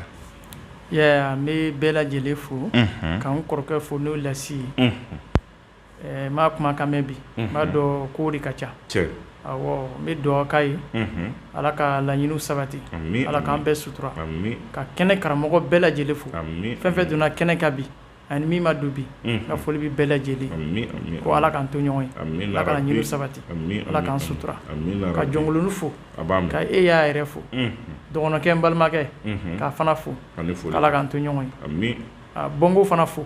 n bɛ bɛɛ lajɛlen fo k'an kɔrɔkɛ fo n'o Lasi ye Ɛɛ n m'a kumakan mɛn bi n b'a dɔn kow de ka ca n bɛ dugawu k'a ye ala ka laɲiniw sabati ala k'an bɛɛ sutura ka kɛnɛ karamɔgɔ bɛɛ lajɛlen fo fɛn fɛn donna kɛnɛ kan bi ani min ma don bi n ka foli bɛ bɛɛ lajɛlen ko ala k'an to ɲɔgɔn ye ala ka laɲiniw sabati ala k'an sutura ka Jɔnkoloni fo ka e y'a yɛrɛ fo dɔgɔnɔkɛ n balimakɛ k'a fana fo ala k'an to ɲɔgɔn ye Bɔngo fana fo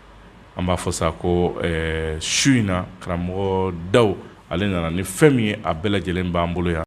an b'a fɔ sa ko su in na karamɔgɔ Dawu ale nana ni fɛn min ye a bɛɛ lajɛlen b'an bolo yan